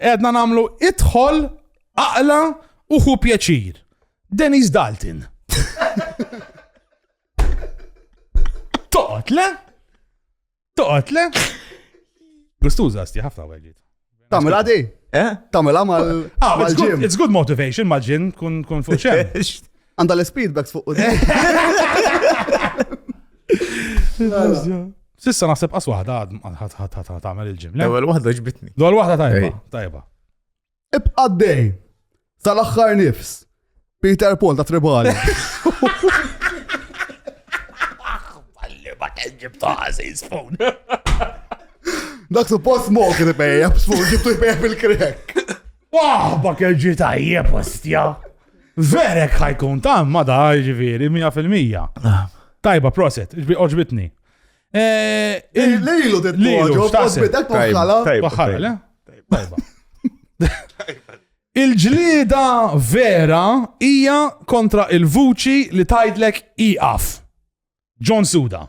Qegħdna nagħmlu idħol, aqla u ħu pjaċir. Denise Dalton. Toqgħod le? Toqgħod le? Gustuża sti ħafna weġġiet. Tamil għadi? Eh? Tamil għamal. Ah, it's good motivation, maġin, kun fuċem. Għanda l-speedbacks fuq u Sissa naħseb qas waħda għad tagħmel il-ġim. L-ewwel waħda ġbitni. L-ewwel waħda tajba. Tajba. Ibqa' dej. Tal-aħħar nifs. Peter Paul ta' Tribali. Balli ma kien ġibta għaziz fun. Dak suppost mok li bejja, b'sfur ġibtu jbejja bil-krek. Waħba kell ġi tajjeb ostja. Verek ħajkun ta' ma da ġifieri 100%. Tajba proset, ġbi oġbitni. Eh, eh, Lilu dit Lilu, x'taħseb? Dak bħala. Bħala, le? Tajba. Il-ġlida vera hija kontra il-vuċi li tajdlek iqaf. John Suda.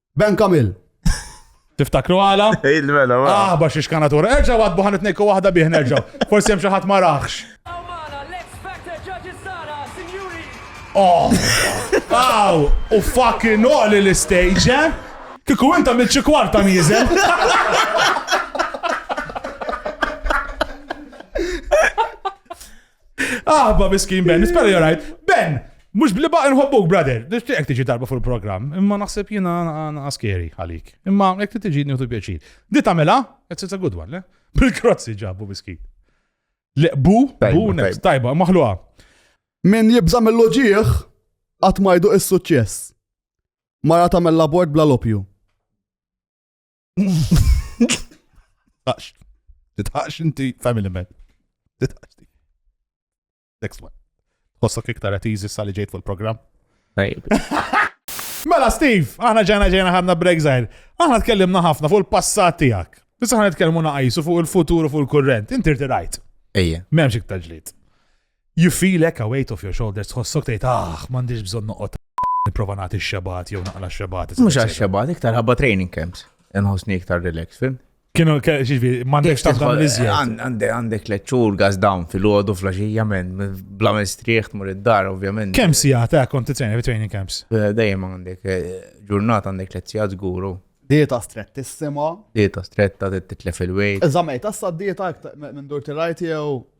Ben Kamil. Tiftakru għala? Il-mela, ma. Ah, bax iċkanatura. Erġa għad buħan it-nejku wahda bih, nerġa. Forsi hemm xi ħadd ma raħx. Oh! Aw! U fucking oli l-istage, eh? Kiku inta minn xi kwarta miżel. Aħba miskin Ben, nispera you're right. Ben, mux bliba nħobbuk, brother. Nishtiqek tiġi darba fuq il-program. Imma naħseb jina askeri għalik. Imma jek tiġi njutu pjaċir. Di tamela, it's a good one, le? Bil-krozzi ġabu miskin. Le, bu, bu, next, tajba, maħluqa. Min jibza mill-loġieħ, għat majdu is-suċċess. Mara tamel labort bla lopju. Titħax. Titħax inti family man. Titħax ti. Next one. Hossok iktar at easy sali ġejt fil-program. Mela Steve, aħna ġena ġena ħadna break zaħir. Aħna tkellimna ħafna fuq il-passat tijak. Issa ħana nitkellmu naqajsu fuq il-futur u fuq il-kurrent. Inti rtirajt. Ejja. Memx iktar ġlit. You feel hekk a weight off your shoulders, tħossok tgħid aħ, m'għandix bżonn noqgħod nipprova nagħti x-xebgħat jew naqla x-xebgħat. Mhux għax xebgħat iktar ħabba training camps. Inħossni iktar relax, fim? Kienu xiġbi, m'għandekx tafda l-iżjed. Għandek għandek leċċur gas down fil-għodu flaxija men, bla mistrieħ tmur id-dar, ovvjament. Kemm sija ta' konti training fi training camps? Eh, dejjem għandek eh, ġurnata għandek lezzija żguru. Dieta strettissima. Dieta stretta titlef il-wejt. Eżamej, tassa dieta minn dur tirajt jew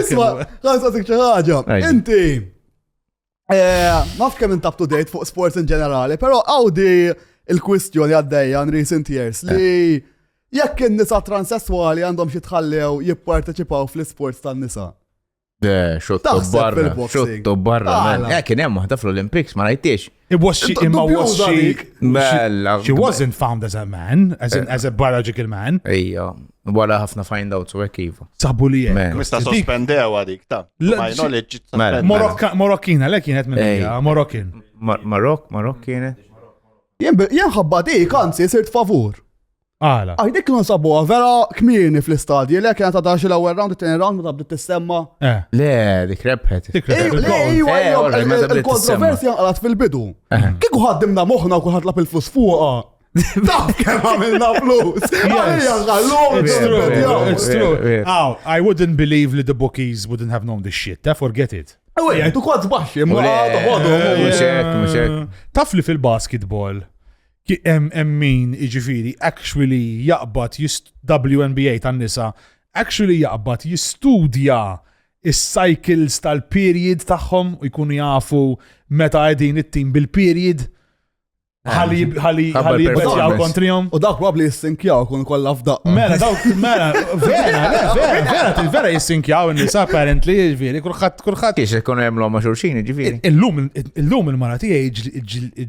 Isma, għan saqsik ċaħġa. Inti, eh, maf kemm int up to date fuq sports in ġenerali, pero għawdi il-kwistjoni għaddejja in recent years li eh. jekk in-nisa transessuali għandhom xi tħallew jipparteċipaw fl-sports tan-nisa. Xotto barra, xotto barra. Eh, kien hemm waħda fl-Olympics, ma rajtiex. It was she, imma was she, Mela. she wasn't found as a man, as, an, as a biological man. Ejja, wara ħafna find out u hekk iva. Sabu li hemm. Mista sospendew għadik, ta. My knowledge. Mela. Morokkina, le kienet minn Ej. Morokkin. Marok, Marok kienet. Jien ħabba dik, anzi, sirt favur. Għala. Għaj, dik non sabuha vera kmini fl-istadji, le kienet għadha xi l-ewwel round, it-tieni round ma tabdi tissemma. Eh. Le, dik rebħet. Dik rebħet. Le, iwa, eh, iwa, il-kontroversja għalat fil-bidu. Eh. Kieku ħaddimna moħħna u kulħadd lab il-flus fuqha. Daf kemm għamilna flus. It's true. Aw, I wouldn't believe li the bookies wouldn't have known this shit. Eh, forget it. Ewa, jgħajtu kod zbaxi, ma għadu għadu. Taf li fil-basketball Hemm min jiġifieri actually jaqbad WNBA tan-nisa actually jaqbad jistudja is-cycles tal-period tagħhom u jkunu jafu meta qegħdin it-tim bil-period ħalli ħalli ħalli jibbeċjaw kontrihom. U dak probabli jissinkjaw kun kollha f'daq. Mela, dawk, mela, vera, vera, vera, vera jissinkjaw in-nisa apparently, ġifieri, kulħadd, kulħadd. Kiex ikun hemm l-hom ma' xulxin, ġifieri. Illum, illum il-mara tiegħi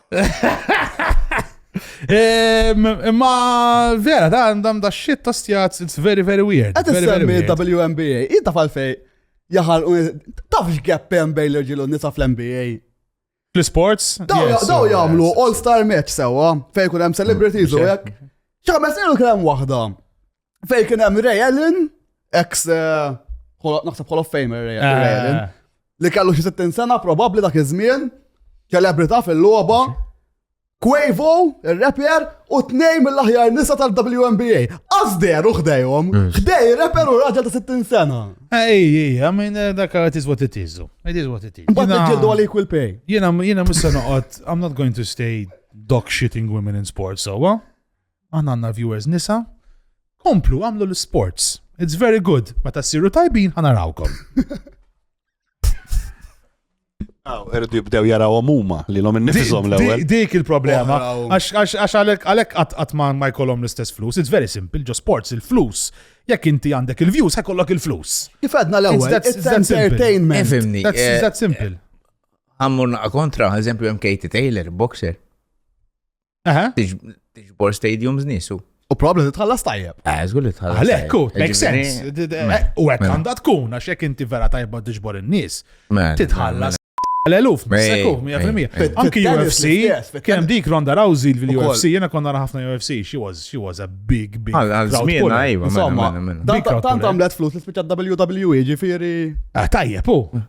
Imma vera, da għandam da shit ta' stjaz, it's very, very weird. Għad s-semmi WNBA, jidda fal-fej, jaħal, taf x'gap hemm bejn l-irġilu nisa fl-NBA. Fl-sports? Daw jagħmlu all-star match sewa, fejn kun hemm celebrities u hekk. ċaħmes ilu kien hemm waħda. Fej kien hemm Ray Allen, ex eh, naħseb Hall of Famer Ray eh. Allen, li kellu xi 60 sena probabbli dak iż-żmien, ċelebrità fil-logħba, Quavo, il-rapper, u tnej mill-aħjar nisa tal-WNBA. Azder u xdejhom, xdej mm. rapper u raġel ta' 60 sena. Ej, ej, I mean, eh, dak it is what it is. It is what it is. But ġildu għalik will pay. Jena, jena musa noqot, I'm not going to stay dog shitting women in sports, so, Aħna għandna viewers nisa. Komplu għamlu l-sports. It's very good. Meta ssiru tajbin ħanarawkom. Aw, irridu jibdew jaraw huma li l-om innifishom l-ewwel. Dik il-problema. Għax għalhekk qatt ma jkollhom l-istess flus. It's very simple, ġo sports il-flus. Jekk inti għandek il-views, ħekollok il-flus. Kif għadna l-ewwel? It's entertainment. Efimni. That's eh, that simple. Għammur naqa kontra, eżempju, hemm Katie Taylor, boxer. Tiġbor stadiums nisu. U probabli titħallas tajjeb. Eh, żgur li tħallas. Għalhekk, kut, make sense. Eh, u hekk għandha tkun għax jekk inti vera tajba tiġbor in-nies, titħallas L-eluf, sekku, 100%. Anki UFC, kem dik Ronda Rousey l-UFC, jena konna ħafna UFC, she was, she was a big, big. Għal-żmien, għajba, Tant għamlet flus li spiċa WWE ġifiri. Ah, tajjeb, u.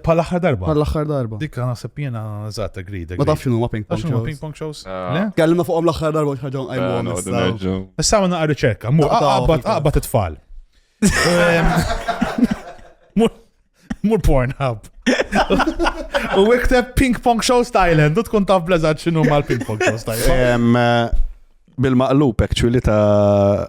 Pal aħħar darba. Pal aħħar darba. Dik għana seppjena zaħta grida. Ma tafx ma ping pong shows. ping pong shows. Ah. Kellimna fuqom l-aħħar darba xħagħon għajmu għom. Issa għanna għarri ċekka, mu għabbat għabbat it-tfal. Mur porn hub. U ikteb ping pong shows Thailand, u tkun taf blezzat xinu mal ping pong shows Thailand. Eh, Bil-maqlub actually ta'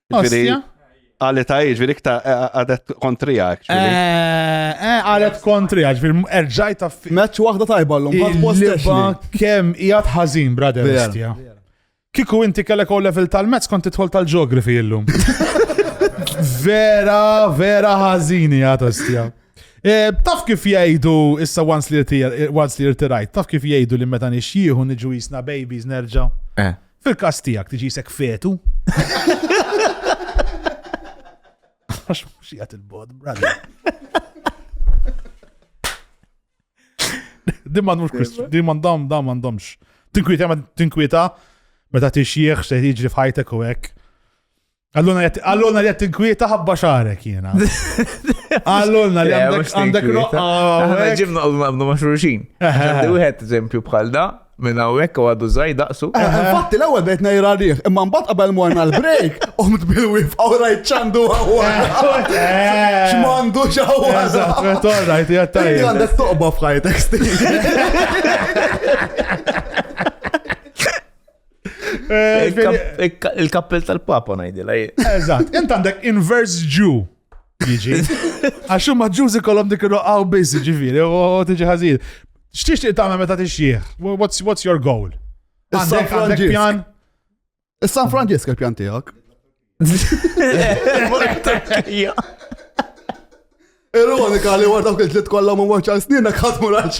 Ostia? Għalet għajġ, ġviri kta għadet kontri għak. Għalet kontri għak, ġviri erġaj ta' fi. Meċ wahda tajba l-lum, għad postaxi. Kem jgħat ħazin, brother, Ostia. Kiku inti kellek u level tal-mezz kont titħol tal-ġeografi illum. vera, vera ħazini għat Ostia. Eh, taf kif jgħidu issa once li rtirajt, taf kif jgħidu li meta nixjieħu niġu jisna babies nerġa'. Eh. Fil-każ tiegħek tiġisek fetu. Għax mhux jgħat il-bod, brother. Din m'għandhomx kwistjoni, din m'għandhom, dan m'għandhomx. Tinkwieta, ma tinkwieta, meta tixjieħ se jiġri f'ħajtek u hekk. Għalluna li għat tinkwieta ħabba xarek jena. Għalluna li għandek roqqa. Għana ġibna għalluna għabnu maċruċin. Għandi wieħed eżempju bħal da, minn hawnhekk u għadu żgħid daqsu. Eh, eh, infatti l-ewwel bejt ngħira rih, imma mbagħad qabel morna l-break, qomt bil-wif u rajt ċandu għawwa. Eh, X'mandu x'għawwa. Eżatt, rajt jattajja. Għandek toqba f'ħajtek Il-kappell tal-papa najdila. Eżat, int għandek inverse Jew. Jiġi. Għaxu ma ġużi kolom dik il-roqaw biz, ġifiri, u tiġi ħazil. Xtiex ti tagħmel meta tixjieħ? What's, what's your goal? Għandek għandek pjan? Is-San Franġisk il-pjan tiegħek. Ironika li għar dawk il-tlit kollha ma waċċar sninna kħat mur għal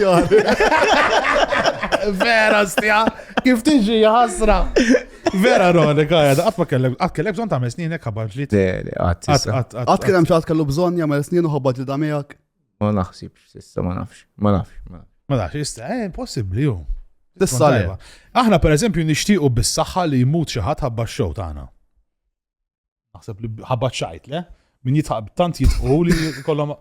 Vera stja, kif tiġi ħasra. Vera ironika għad, għat ma kellek, għat kellek bżon ta' sninna kħabar ġlit. Għat kellem xaħat kellu bżon jgħamil snin u ħabbat li damijak. Ma naħsibx sissa, ma nafx, ma nafx. Ma nafx, issa, eh, possibli ju. Tissa leba. Aħna per eżempju nixtiequ bis-saħħa li jmut xi ħadd ħabba x-xow tagħna. Naħseb li ħabba xajt le, min jitħab tant jitqu li kollhom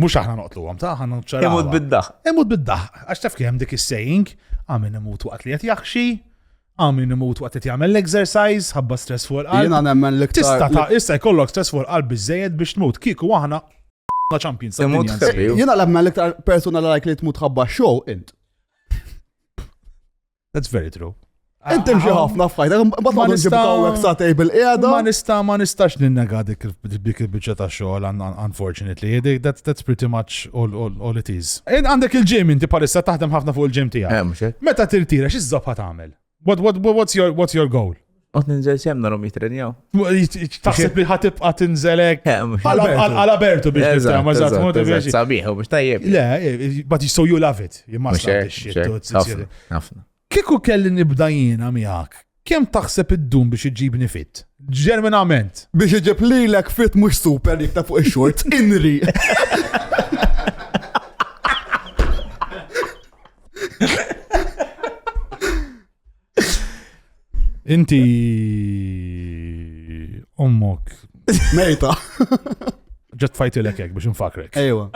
Mux aħna noqtlu għam ta' ħana ċarra. Imut biddaħ. Imut biddaħ. Għax taf kem dik is-saying, għamin imut waqt li jgħat jaxxi, Hawn min imut waqt qed jagħmel l-exercise, ħabba stress fuq il-qalb. Jiena nemmen l-iktar. Tista' ta' issa jkollok stress fuq il-qalb biżejjed biex tmut. Kieku aħna la champions. Imut ħabib. Jiena nemmen l-iktar persuna li like li tmut ħabba show int. That's very true. Inti mxi ħafna f'ħajta, mbagħad ma nġibka hawnhekk sa table qiegħda. Ma nista' ma nistax ninnega dik il-biċċa ta' xogħol unfortunately. That's pretty much all it is. Għandek il-ġim inti palissa taħdem ħafna fuq il-ġim tiegħek. Eh, mhux hekk. Meta tirtira x'iżżob ħa tagħmel? What, what, what, what's, your, what's your goal? Għot ninżel xem narom jitrenjaw. Taħseb li ħatib għat inżelek. Għala bertu biex nistra, ma zaħt modi biex. Sabiħu biex tajjeb. Le, but so you love it. Jimma xie. Għafna. Kieku kelli nibda jiena miegħek, kemm taħseb iddum biex iġġibni fit? Ġerminament! Biex iġib lilek fit mhux super dik ta' fuq ix-xorts, inri! Inti ommok. Mejta. Ġet fajtilek hekk biex nfakrek. Ejwa.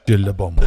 Ġille bommu.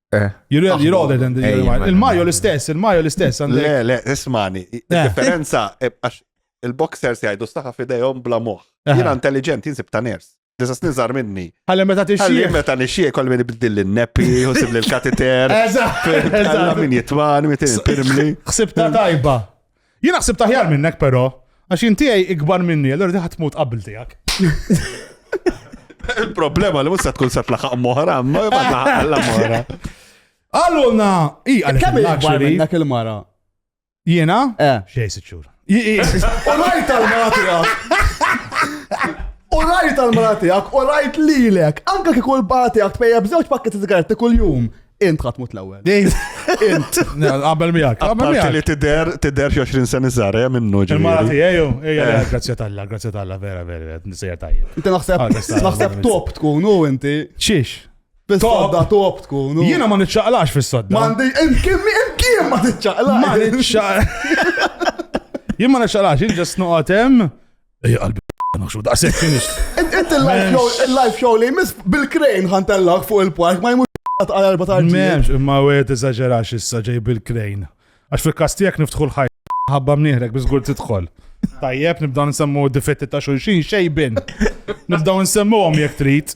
Eh. You're really- you're older than the Ej, Mario. ma- Il-Mario l-istess, il-Mario l-istess. għandek- Le, le, ismani, Eh. il-differenza, eh, għax il-boxers jgħidu staħa fidejhom bla moħ. Aha. Jina intelligent, jinsib ta' ners. Disa snin zar minni. Ħalli meta Għalli tixxieħ. meta nixie kol min ibdil l-neppi, u sibli l-kateter. Eżatt, Għalla eżatt. min jitman, min il-pirmli. Xsibta tajba. Jien naħseb taħjar minnek però, għax intijaj ikbar minni, allora diħat tmut qabel tijak. Il-problema li musa tkun sat laħaq moħra, ma jibgħatna moħra. Allura, i għalek. Kemm ikbar minnek il-mara? Jiena? Eh. Xej siċur. U rajt tal-mara tijak. U rajt tal-mara tijak, u rajt lilek. Anka kikul batijak tpejja bżewġ pakket sigaretti kull-jum. Int ħadd mut l-ewwel. Int. Qabel miegħek. Qabel miegħek. Li tidher tidher xi 20 sen iżgħar eh, minnu ġifieri. Il-mara tiegħi jew ejja eh. grazzja t'Alla, grazzja t'Alla vera vera nisejja tajjeb. Inti naħseb ah, naħseb top tkun u inti. Xiex? Fis-sodda top tkun. Jiena ma niċċaqlax fis-sodda. M'għandi imkien imkien ma tiċċaqlax. Ma niċċaqlax. Jien ma niċċaqlax, jien ġas noqgħod hemm Ej, qalbi naħxu daqsek finish. Inti il-live show li jmiss bil-krejn ħantellak fuq il-park ma jmur għal erba ta' Menx, imma u għed eżagġerax issa ġej bil-krejn. Għax fil-kastijak niftħu l-ħaj. Ħabba mnieħrek bizgur tidħol. Tajjeb, nibdaw nsemmu difetti ta' xulxin, xejbin. Nibdaw nsemmu għom jek trit.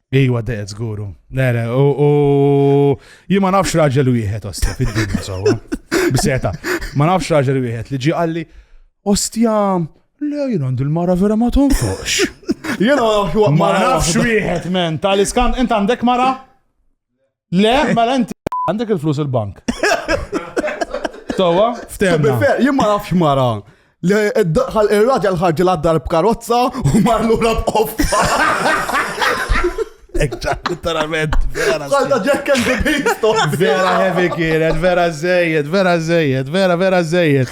Iwa deqet zguru. Le, le, u jima nafx raġel wieħed ostja fid-dinja sewwa. Biseta. Ma nafx raġel wieħed li ġi qalli ostja le jien għandi l-mara vera ma tonfoqx. Jena ma nafx wieħed men tal-iskan int għandek mara? Le, mela inti għandek il-flus il-bank. Tawa? Ftemna. Jien ma nafx mara. Li daħal ir-raġel ħarġi l-addar b'karozza u mar lura b'qoffa. Ekċak, literalment, vera. Għalda Jack and the Beanstalk. Vera heavy kienet, vera zejjed, vera zejjed, vera vera zejjed.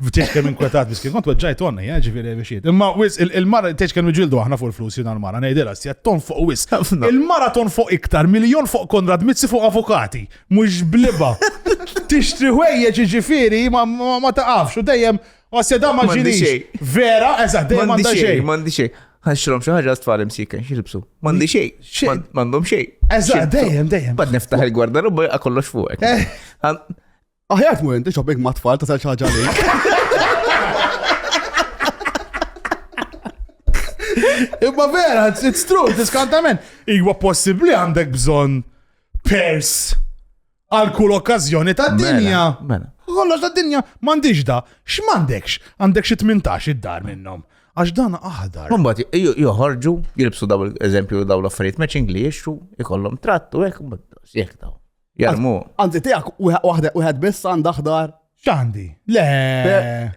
Tiex kemm inkwetat miskin, kont weġġajt onni, eh, ġifieri bixiet. Imma wis il-mara tiex kemm iġildu aħna fuq il-flus jiena l-mara, ngħidilha sija ton fuq wis. Il-mara ton fuq iktar miljon fuq Konrad Mizzi fuq avukati, mhux bliba. Tixtri ħwejjeġ ġifieri ma taqafx u dejjem għasja da ma ġinix. Vera, eżatt, dejjem ma xejn. M'għandi xejn. Ħanxrom xi ħaġa tfal imsika, xilbsu. M'għandi xejn. M'għandhom xejn. Eżatt, dejjem, dejjem. Bad niftaħ il-gwardaruba kollox fuqek. Eh. Aħjar tmur inti shopping ma' tfal tasal xi ħaġa lejk. Imma vera, it's- it's true, diskantament. Iwa possibli għandek bżon pers għal kull okkazjoni ta' dinja. Mela, mela. Kollox ta' dinja, mandiġ da, x'mandekx, għandek xi 18 id-dar minnhom. Għax dan aħdar. Mbagħad jo- joħorġu, jilbsu daw eżempju daw l-affarijiet matching li jixtru, ikollhom trattu hekk, mbagħad jekk daw. Jarmu. Anzi, tijak, uħed biss għanda ħdar. Xandi? Le.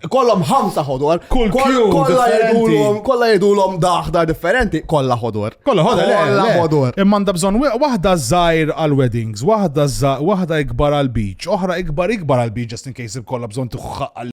Kollom ħamsa ħodor. Kull kolla jedulom, kolla jedulom daħdar differenti, kolla ħodor. Kolla ħodor, kolla ħodor. Imma għanda bżon wahda zaħir għal-weddings, wahda zaħir, wahda ikbar għal-beach, oħra ikbar ikbar għal-beach, just in case kolla bżon tuħħaq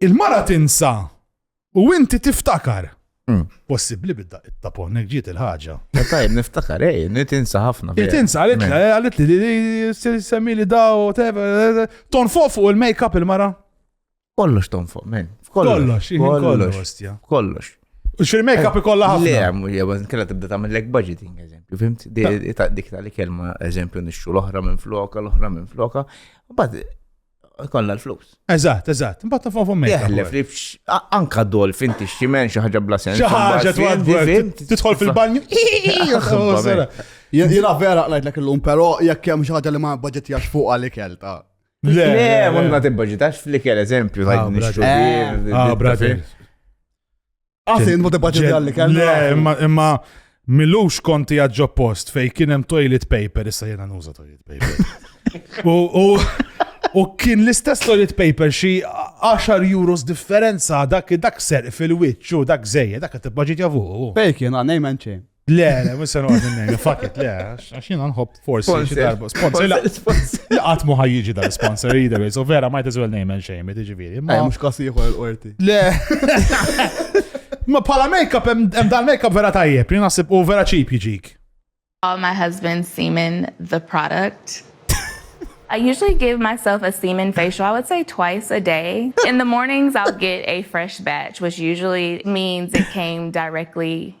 Il-mara tinsa u inti tiftakar. Hmm. Possibli bidda it-tapon, nek ġiet il-ħagġa. Eh, tajb, niftakar, ej, eh, nitinsa ħafna. Nitinsa, għalit li, eh, għalit li, semmi li daw, ton fuq fuq il-make-up il-mara. Kollox ton fuq, men. Kollox, kollox. Kollox. U xil-make-up ikolla ħafna. Le, għamu, jgħu, kena tibda ta' mill-leg budgeting, eżempju, fimt? Dik ta' li kelma, eżempju, nixxu l-ohra minn floka, l-ohra minn floka. Bad, Kolla l-flus. Eżatt, eżatt. Mbagħad ta' fuq mejda. Teħlef li anka dol fin tixximen xi ħaġa bla sens. Xi ħaġa tidħol fil-banju. Jiena vera qlajtlek illum, però jekk hemm xi ħaġa li ma budgetjax fuq għalik kelta. Le, ma tibbaġitax fl-ikel eżempju, tajt nixxu. Bravi. Għasin, mu tibqa ġedja li kellu. Imma, imma, milux konti għadġo post fej kienem toilet paper, issa jena nuża toilet paper. U, u, u kien l-istess toilet paper xi 10 euros differenza dak dak ser fil-witch u dak zejja, dak tibqa ġedja fuq. Fej kien għanej menċin. Le, le, mux se noqgħod minnejn, fuck it, le, għax jiena nħobb forsi xi darba sponsor. La qatt mu ħajjiġi dal sponsor either way, so vera might as well name and shame, tiġifieri. Ma mhux każ ieħor l-qorti. Le. Ma bħala make-up hemm dan make-up vera tajjeb, li naħseb u vera cheap jiġik. All my husband's semen the product. I usually give myself a semen facial, I would say twice a day. In the mornings, I'll get a fresh batch, which usually means it came directly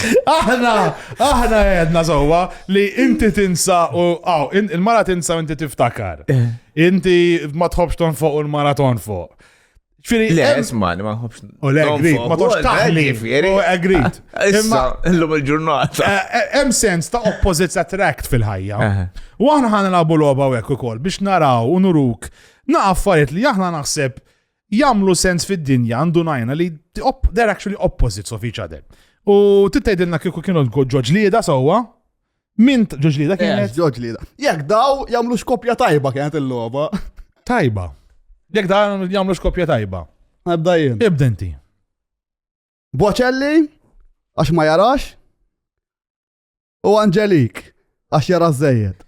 Aħna, aħna għedna zowa li inti tinsa u għaw, il-mara tinsa u inti tiftakar. Eh. Inti ma tħobx ton fuq u l-mara ton fuq. Ġifiri, le, isma, ma nħobx. U le, grit, ma tox taħli. U grit. Imma, l-lum il-ġurnata. Eh, eh, hemm sens ta' opposites attract fil-ħajja. Eh. U aħna ħana labu loba u ekku kol biex naraw u nuruk na affarijiet li aħna naħseb jagħmlu sens fid-dinja ndunajna li they're actually opposites of each other. U titgħidilna kieku kienu ġoġlieda sewwa, min ġoġlieda eh, kienet? Ġoġlieda. Jekk daw jagħmlu xkopja tajba kienet il-logħba. Tajba. Jekk daw jagħmlu xkopja tajba. Ebda jien. Ibda inti. Boċelli, għax ma jarax, U Angelik, għax jara żejjed.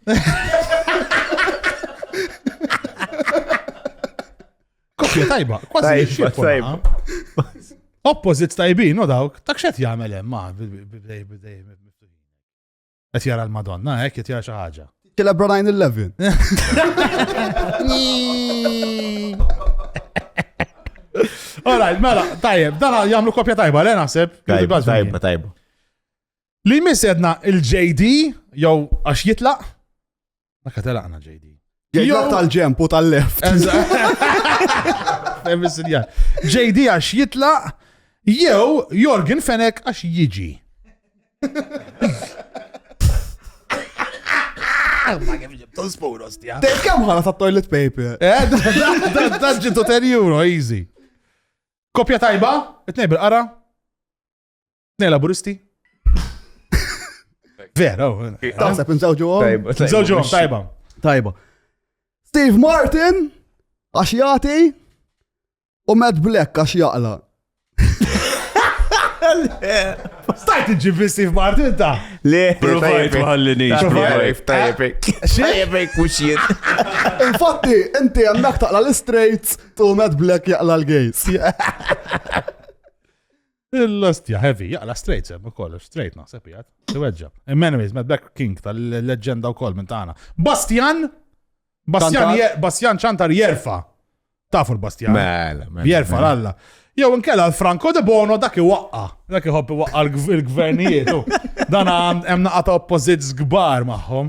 Koppja tajba, kważi tajba. Opposit tajbin, no dawk, tak xet jagħmel hemm ma' bidej bidej qed jara l-Madonna, hekk qed jara xi ħaġa. Killa Brian Eleven. Alright, mela, tajjeb, dan jagħmlu kopja tajba, le naħseb. Tajba, tajba. Li jmiss edna il-JD, jew għax jitlaq. Ma katalaqna JD. Jitlaq tal-ġemp u tal-left. JD għax jitlaq, jew Jorgen Fenek għax jiġi. Ma kif ġibtu spuros tija. Dej kam ħana ta' toilet paper. Eh, da ġibtu 10 euro, easy. Kopja tajba, it-nejb il-qara, Ne laburisti? Vera, oh, eh. Taħseb nżawġu għom? Nżawġu għom, tajba. Tajba. Steve Martin, għax jati, u Matt Black għax jaqla. Stajt iġibi Steve Martin ta' Le, provajt maħallini. Provajt, tajjebek. Tajjebek u xien. Infatti, inti għandak taqla l-straights tu Matt Black jaqla l-gays. Il-lastja heavy, jaqla straight sem ukoll, straight naħseb jgħat, tiweġġa. Immenemis, Mad Black King tal-leġenda wkoll minn tagħna. Bastian, Bastian, Bastian ċantar jerfa. Tafu l-Bastian. Mela, mela, jerfa mela. l-alla. Jew inkella l-Franco de Bono dak iwaqqa. Dak iħobb iwaqqa l-gvernijiet. Dan hemm naqata oppożizzjoni kbar magħhom.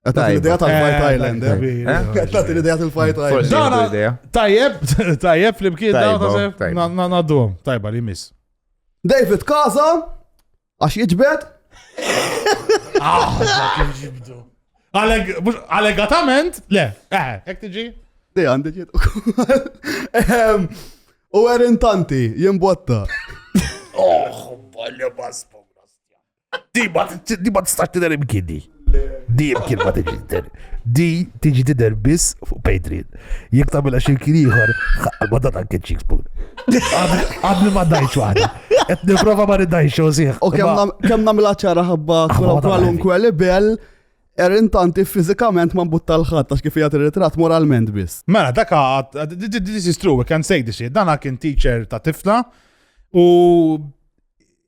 Għatat l-ideja tal-Fight eh, Island. Għatat eh? eh? l-ideja tal-Fight Island. Dana, tajjeb, tajjeb li bkien dana, naddu, tajba li mis. David Kaza, għax jġbed. Ah, Allegatament, le, eh, ek tiġi? Di għandi ġiet. Ehm, u għerin tanti, jimbotta. Oh, bolli baspo. Di ma tistax tidher imkien di. Di imkien ma tiġi tidher. Di tiġi tidher biss fuq Patreon. Jek tagħmilha xi kien ieħor, ma dat anke cheeks spoon. Qabel ma dajċ waħda. Qed nipprova ma nidajx xosih. U kemm nagħmilha ċara ħabba kwalunkwe libel, Erin tanti fizikament ma mbutta l-ħat, għax kif jgħat il-ritrat moralment biss. Mela, daka, this is true, we can say this shit. Dana kien teacher ta' tifla u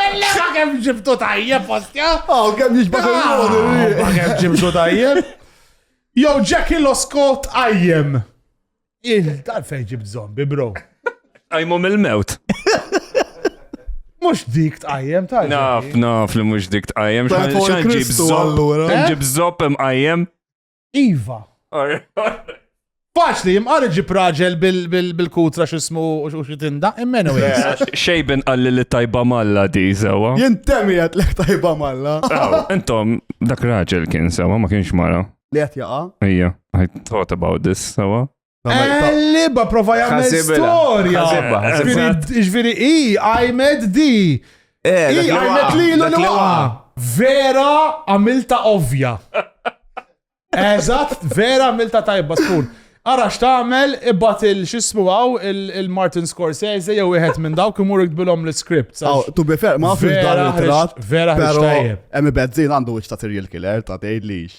Ellema kem ġibtu tajjeb, postja? Oh, kem ġibtu tajjeb. Ah, kem ġibtu tajjeb. Jow, Jackie Loskot għajjem. Il-darfej ġibt zombi, bro. Għajmu mill-mewt. Mux dik tqajjem ta' Naf, naf li mux dik tqajjem. Xan ġib zopp, ġib zopp imqajjem. Iva. Faċli, jimqar iġib raġel bil-kutra xismu u xitinda, immen u Xejben għalli li tajba malla di, sewa. Jintemi għat li tajba malla. Intom, dak raġel kien sewa, ma kienx mara. Li għat jaqa? Ija, I thought about this, sewa. Liba prova jagħmel storja. Ġviri, i għajmed di. Eh, I għajmed li l-luqa. Vera għamilta ovvja. Eżatt, vera għamilta tajba tkun. Ara x'tagħmel ibgħat il x'ismu għaw il-Martin Scorsese jew wieħed minn dawk imur iktbilhom l-iskript. Aw, tu bi ferq ma fil dan il-trat. Vera ħriġ tajjeb. Hemm ibezzin għandu wiċċ ta' serial killer ta' tgħidlix.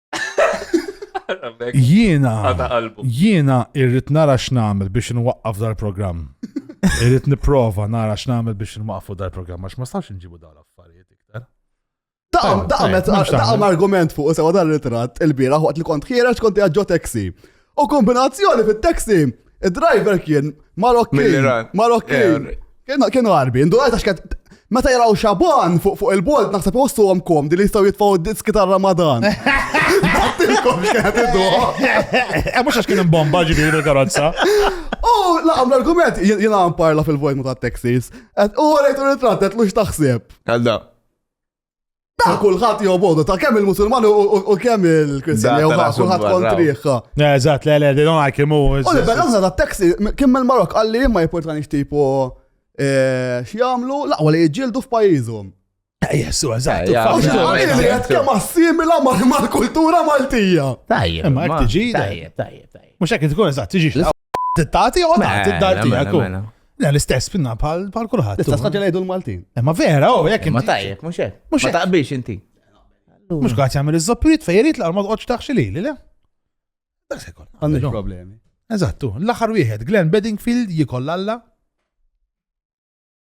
Jiena, jiena irrit nara x'namel biex nwaqqaf dal-programm. Irrit niprofa nara x'namel biex nwaqqfu dal-programm, għax ma stax nġibu dal affarijiet iktar. Daqqa argument fuq sewa dal-ritrat il-bira waqt li kont ħiereġ kont jaġġo taxi. U kombinazzjoni fit-taxi, id-driver kien Marokki. Marokki. Kienu għarbi, ndu għajta xkent. Meta jaraw xaban fuq fuq il-bolt naħseb jossu għom kom di li jistaw jitfaw diski ta' Ramadan. Għattilkom xkent id eh, Mux għax kien bomba ġibir il-karozza. U laqam l-argument jina parla fil-vojt ta' Texas. U għalajtu ritrat, għetlu xtaħseb. Għalda. Ta' kullħat jew bodu, ta' kemm il-Musulman u kemm il-Kristjan jew ta' kullħat kontriħ. Eżatt, le, le, they don't like him. U li bella ta' taxi, kim il-Marok għalli ma jipportani xtipu eh, x'jamlu, laqwa li jġildu f'pajjiżhom. Eh, Jessu, eżatt. Kemm assimila mal-kultura Maltija. Tajjeb. Ma jekk tiġi. Tajjeb, tajjeb, tajjeb. Mhux hekk tkun eżatt, tiġi Tati u tati d-dar tijak. Le, l-istess pinna pal kulħadd. L-istess ħagġa lejdu l-Maltin. Eh, ma vera, u oh, jek. Ma tajjeb, mux jek. Mux jek. Taqbix inti. Mux għat jgħamil iż-zoppirit fejjerit l-arma tqoċ taħxi li li le. Dak se jkoll. Għandix problemi. Eżattu, l-axar wieħed, Glenn Bedingfield jikoll alla.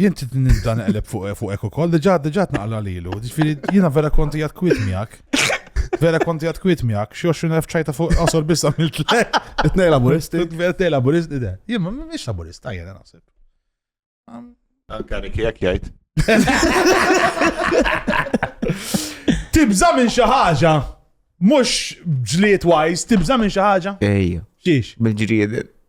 Jien trid nibda neqleb fuq fuq hekk ukoll, diġà diġà tnaqla lilu. Ġifieri jiena vera konti għad kwit miegħek. Vera konti għad kwit miegħek, xi 20,000 ċajta fuq qosor biss għamilt lek. Tnej laburisti. Tnej laburisti, de. Jien ma mhix laburist, tajjeb naħseb. Anka Niki jekk jgħid. Tibża minn xi ħaġa. Mhux ġliet wise, tibża minn xi ħaġa. Ejja. Xiex? Bil-ġrieden.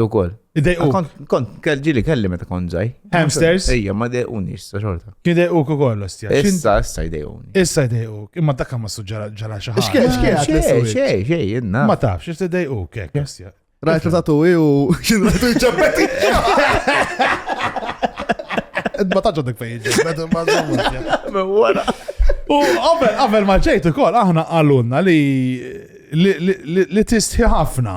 Ukoll. Idejqu. Kont, kont, kell- ġili kelli meta kont ġaj. Hamsters? Ejja, ma dejquni issa xorta. Kien idejqu ukoll ostja. X'in- Issa, issa jdejquni. Issa idejqu. Imma dak ma suġġara ġara xi ħaġa. X'kien- x'kien għad Xej, l-iswid? xej, xej, jenna. Ma tafx, xi tidejqu kek ostja. Rajt li tatu i u kien rajt u ġabbeti. Ma taġġa dik fejn ġabbeti ma zomma. Wara. U qabel qabel ma ġejt ukoll aħna qalulna li li- li li- li tistħi ħafna.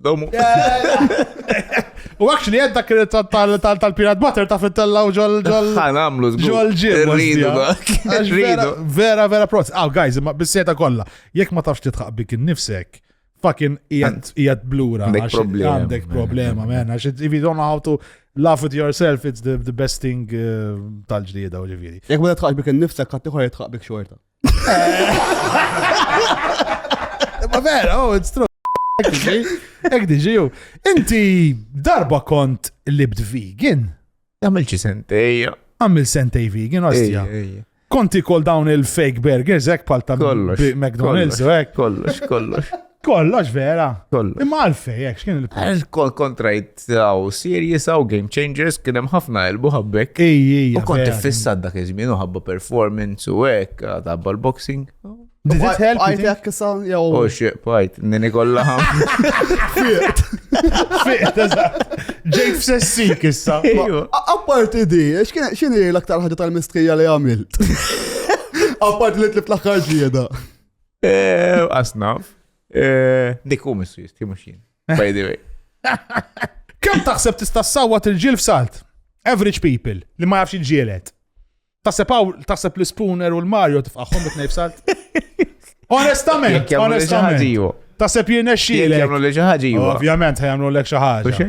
Domu. U għakx li għedda kien tal-Peanut Butter ta' fit-tella u ġol ġol. Għan għamlu ġol ġol. Rridu Rridu. Vera, vera proz. Aw, guys, ma bisseta kolla. Jek ma tafx titħaq bik nifsek fucking jgħat blura. Għandek problema, man. Għax if you don't know how to laugh at yourself, it's the, the best thing uh, tal-ġdida u ġiviri. Jek ma titħaq bik nifsek, għattiħor jitħaq bik xorta. Ma vera, oh, it's true. Ek diġi ju. Inti darba kont libt vegan? Għamil ċi sentej. Għamil sentej vegan, għastja. Konti kol dawn il-fake burgers, ek pal ta' McDonald's, ek. Kollox, kollox. Kollox vera. Kollox. Imma għalfej, jek, xkien il-punt. Għax kol kontrajt għaw series għaw game changers kien hemm ħafna elbu ħabbek. Ijji, U kont fissat dak iż-żmien u ħabba performance u hekk għadabba l-boxing. Did it help? Għajt you jekk sa, jew. Oh shit, bajt, nini kollha ħam. think? Fiqt, eżatt. Ġejt f'sessik issa. Apparti di, x'kien- x'inhi l-aktar ħaġa tal-mistrija li għamilt? Apparti li tlib l-aħħar ġieda. Eh, Asnaf. Eh, dik u missu jisti, mux jien. By the way. Kem taħseb tista' sawwat il-ġil f'salt? Average people li ma jafx il-ġielet. Taħseb għaw, taħseb l-spooner u l-Mario tifqaħħom bit f'salt? Onestament, onestament. Taħseb jirnexxi. Jamlu li xaħġi. Ovvjament, jamlu l-ek xaħġi.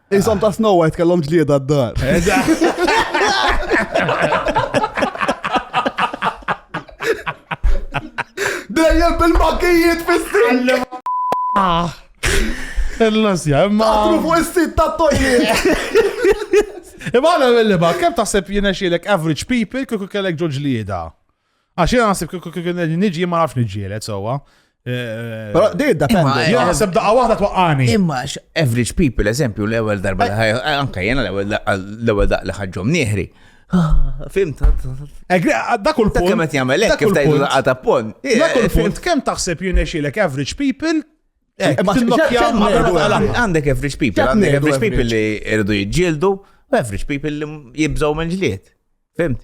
Insom ta' Snow White kellhom ġlieda d-dar. Dejjem bil-makijiet fis-sin. Ah. Il-lasja, imma. Għatru fuq is-sit ta' toilet. Imma għana mill-liba, kem taħseb jina xilek average people kiku kellek ġoġ lieda? Għax jena għasib kien nġi ma nafx nġielet sowa. Eh, Pero di da penda. Jena għasib daqqa wahda twaqqani. Imma average people, eżempju, l-ewel darba li ħajja, eh, anka jena l-ewel daqqa li ħagġom nieħri. Ah, fimt. Dak kull punt. Kemet jgħamel, kif tajdu daqqa ta' pon. Dak kull punt, kem taħseb jinexilek average people eh, Għandek average people, għandek average people li irridu jġildu, average people li jibżaw minn ġliet. Fimt?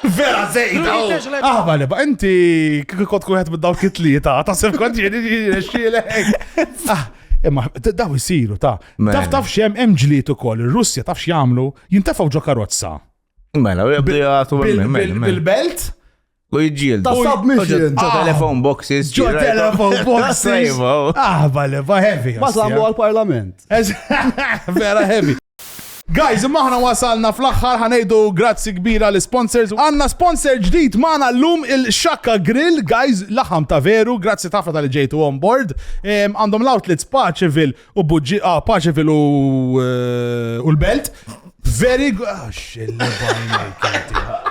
Vera zejda! Aħba li ba, inti kik kont kuħet minn dawk it-tlieta, ta' sem kont jeni xilek. Ah, imma daw jisiru ta' taf taf xem hemm ġliet ukoll, ir-Russja taf x'jagħmlu, jintefgħu ġo karozza. Mela, jibdu jgħatu bil-belt. U jġil. Ta' submission. Ġo ah. telefon boxes. Ġo telefon boxes. Aħba li ba heavy. Ma samu għal-parlament. Vera heavy. Guys imma aħna wasalna fl-aħħar ħa ngħidu grazzi kbir għal isponsors. Għandna sponsor ġdid magħna llum il-Shaka Grill guys laħam ta' veru grazzi tafna tal-li ġejtu on board. Għandhom l-outlets Paċevil u Buġġi ah Paċevil u u l-Belt. Very good. Ah, xilli bajna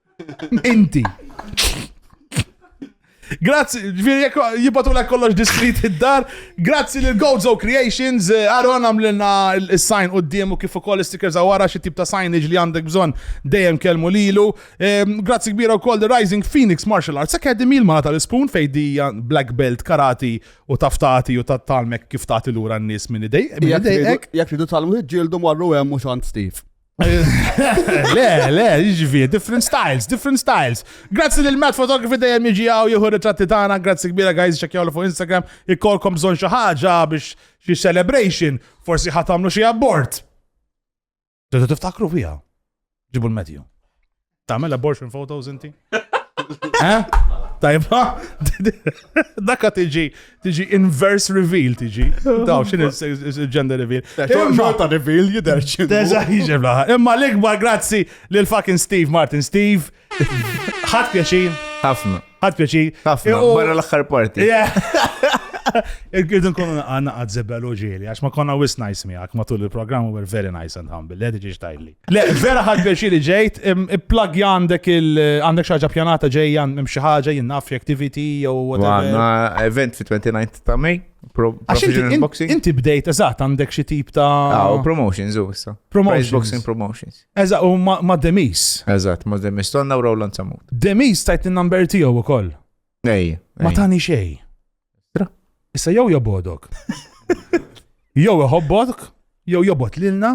Inti. Grazzi, ġviri jek jibatu la kollox diskrit id-dar. Grazzi lil Gozo Creations, eh, Aron għamlina il-sign u d-diemu kif ukoll stickers għawara xie tip ta' signage li għandek bżon dejjem kelmu lilu. Ehm, grazzi kbira wkoll The Rising Phoenix Martial Arts Academy l-mala tal-ispun fejdija black belt karati u taftati u tat-talmek kif tagħti lura n-nies minn idej. Jek ridu tal-mħiġġieldu marru hemm u xant Steve. Le, le, jiġifi, different styles, different styles. Grazzi lil Matt Photography dejjem jiġi għaw jieħu ritratti tagħna, grazzi kbira guys ċekjaw fuq Instagram, ikkolkom bżonn xi ħaġa biex xi celebration, forsi ħatamlu xi abort. Ġetu tiftakru fija. Ġibu l-medju. Tagħmel abortion photos inti? Eh? Tajba? Daka tiġi, tiġi inverse reveal tiġi. Daw, xin il-gender reveal. Xorta reveal jider xinu. Deġa jiġi blaħa. Imma l-ikbar grazzi l-fucking Steve Martin. Steve, ħat pjaċin. Ħafna. Għad pjaċi. Ħafna, barra l-axħar parti. Irgidu nkunu għanna għad zebbel uġili, għax ma konna wis nice miegħek matul il-programm u very nice and humble, le diġi xtajli. Le, vera ħad pjaċiri ġejt, plug għandek il għandek xaġa pjanata ġejja minn xi ħaġa jinnaf activity jew whatever. Għanna event fi 29 ta' May. Professional boxing. Inti bdejt, eżatt, għandek xi tip ta' ah, promotions u issa. Promotions. Boxing promotions. Eżatt, u ma' Demis. Eżatt, ma' Demis, tonna u Roland Samut. Demis tajt il-number tiegħu wkoll. Ej. Ma tani xej. Issa jew jobodok. Jew iħobbok, jew jobot lilna.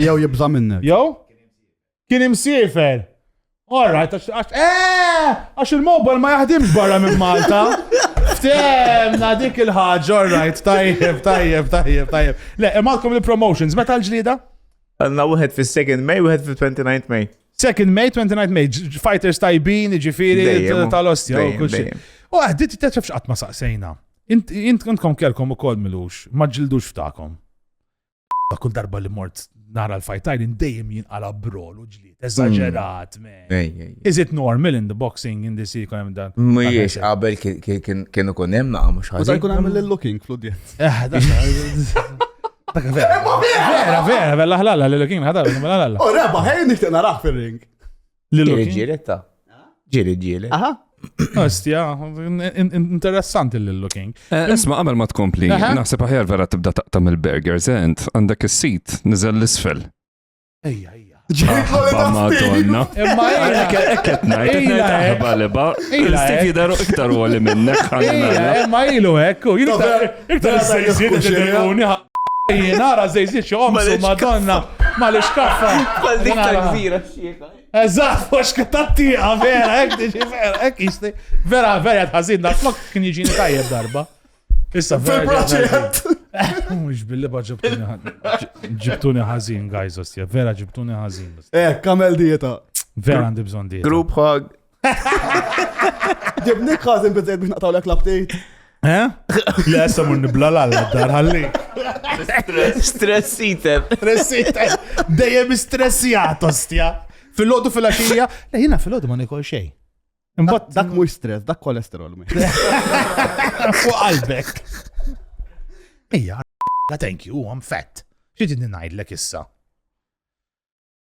Jew jibża minnek. Jew? Kien imsiefer. All right, għax għax eh, għax il-mobile ma jaħdimx barra minn Malta. Ftemna dik il-ħaġa, all right, tajjeb, tajjeb, tajjeb, tajjeb. Le, imalkom il-promotions, meta l-ġlida? Għanna wieħed fis-2nd May, wieħed fil-29 May. 2nd May, 29 May, ġ- fighters tajbin, ġifiri, Dejjem, t- tal-ostja, u dejjem, kull xi. dejjem. U għaddit t-tefx qatt ma saqsejna. Int int- intkom kelkom u kol milux, ma ġildux ftakom. Kull darba li mort nara l-fajtajn indejjem jinqala brol u ġlied. Mm. Eżaġerat, me. Is it normal in the boxing in the sea kun hemm dan? Mhijiex qabel kienu kun hemm naqgħu mhux ħaġa. Kun hemm l-looking fl-udjenz. Eh, dak vera. Vera, vera, bella ħlalla, l-looking ħadar, bella ħlalla. U reba, ħejn nixtieq naraħ fir-ring. Ġiri ġiri ta. Ġiri ġiri. Aha. Ostja, interessanti l-looking. Eh, isma, għamil ma tkompli, naħseb aħjar vera tibda taqtam il-burgers, ent, għandek il-sit, nizel l-isfel. Ejja, ejja. Ġejba madonna. Imma ekket ekket najt, ekket najt għaliba. Il-stik jidaru iktar u għali minnek. Imma ilu ekku, ilu iktar s-sejzid ġedegħuni. Jien għara zejzid xo għomsu madonna. Ma l-iskaffa. Għal dik tal-gżira. Eżatt, mhux tat-tieqa, vera, hekk tiġi vera, hekk jisti. Vera, vera tħażin dak flok kien jiġini tajjeb darba. Issa fil-proġett. Mhux billi ba ġibtuni ħażin. Ġibtuni ħażin, guys, ostja, vera ġibtuni ħażin. Eh, kamel dieta. Vera għandi bżonn dieta. Group hug. Ġibni kważi nbizzejt biex naqtaw l-ek l-update. Eh? Le, issa mun nibla l-għalla dar ħalli. Stress eater. Stress eater. Dejjem stressijat, ostja. Fil-lodu fil-axija. Le, jina fil-lodu ma nikol xej. Imbat dak mux stress, dak kolesterol. Fuq qalbek. Ija, thank you, I'm fat. Xie tidni najdlek issa?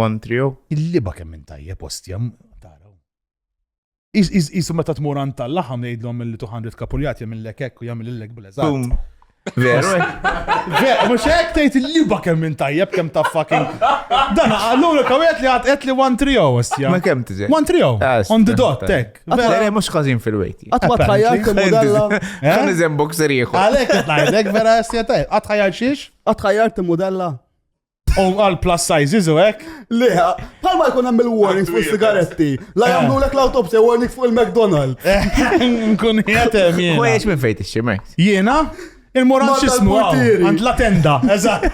One trio. Il-liba kemm minn tajjeb ostja taraw. Isu meta tmur għand tal-laħam jgħidlhom li 200 kapuljat jagħmillek hekk u jagħmilillek bl-eżatt. Veru? Veru, mux hekk tgħid il-liba kemm minn tajjeb kemm ta' fucking. Dan għallu li kawet li għad qed li 1 trio ostja. Ma kemm tiġi? 1 trio. Ah, On the dot, tek. Vera mhux każin fil-wejti. Għatma tħajjal kemm modella. Kan iżem boxer ieħor. Għalhekk qed ngħidlek vera ostja tajjeb. Għatħajjal xiex? Għatħajjal kemm modella. U għal plus sizes u hekk? Le, bħal ma jkun hemm il-warnings fuq sigaretti. La jagħmlu lek l-autopsy warning fuq il-McDonald. Nkun jgħetem jien. U jiex minn fejn tixxi Max? Jiena? Il-moran xismu għand la tenda, eżatt.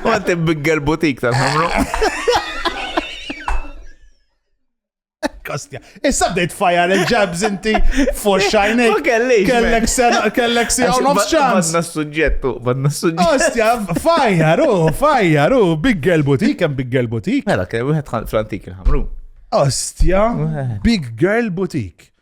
Għant il-bigger butik tal-ħamru. Kostja. Issa bdejt fajar il-ġabs inti fuq xajni. Ma kellix. Kellek sena, kellek si għaw nofs ċans. Badna s-sujġettu, badna s-sujġettu. Kostja, fajar, u, fajar, u, big girl boutique, kem big girl boutique. Mela, kem wieħed fl-antik il-ħamru. Ostja, big girl boutique.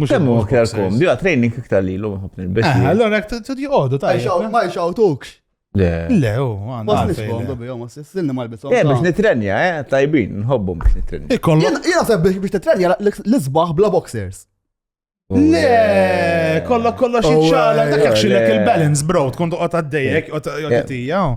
Mux Kemm huwa ktar kom, bija training iktar li l-lum nħobb nilbes. Eh, allora jek t-tut joqodu ta' Ma jxawtukx. Le. Le, u għandu. Ma s-nisbom, dobi, ma s-silni ma l-bisom. Eh, biex nitrenja, eh, tajbin, nħobbum biex nitrenja. Jena seb biex nitrenja l-izbaħ bla boxers. Oh, Le, kollok kollox oh, iċċala, dak xilek il-balance, bro, tkun toqgħod għaddejjek, għaddejjek,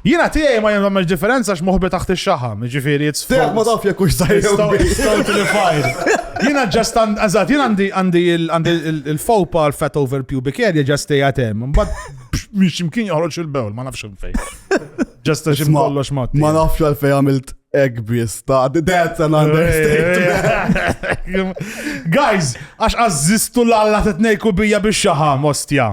Jiena tiegħi ma jagħmilx differenza għax moħbi taħt ix-xaħam, jiġifieri it's Tiegħek ma taf jekk hux żgħir jew kbir. Stoltified. Jiena ġast għand- eżatt, jien għandi għandi il- għandi il- il-fawpa l-fat over pubic area ġast tejja tem. Mbagħad mhix imkien joħroġ il-bewl, ma nafx fejn. Ġast għax Isma, kollox ma. Ma nafx għalfej għamilt ek biss ta' that's an understatement. Guys, għax għazzistu l-alla t-tnejku bija biex xaħam, ostja.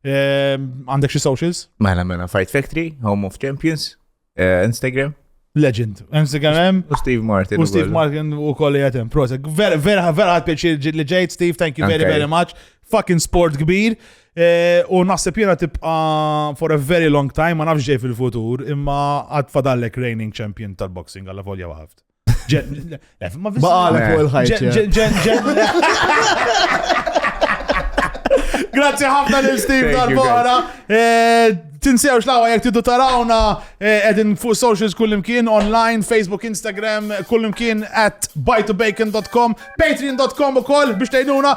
Ehm, għandek xi socials? Mela mela Fight Factory, Home of Champions, eh, Instagram. Legend. Instagram hemm. U Steve Martin. U Steve Martin u kolli għatem. Prozac. Vera, vera, vera għad pieċi li ġejt, Steve, thank you very, very much. Fucking sport kbir. Eh, u naħseb jena tibqa for a very long time, ma nafx ġej fil-futur, imma għad fadallek reigning champion tal-boxing għalla volja waħaft. Ma għalek fuq il-ħajt. Grazzi ħafna lil Steve dal-bora. Eh, tinsewx lawa jek tidu tarawna eh, edin fuq socials kullimkien online, Facebook, Instagram, kullimkien at buytobacon.com, patreon.com u koll biex tajduna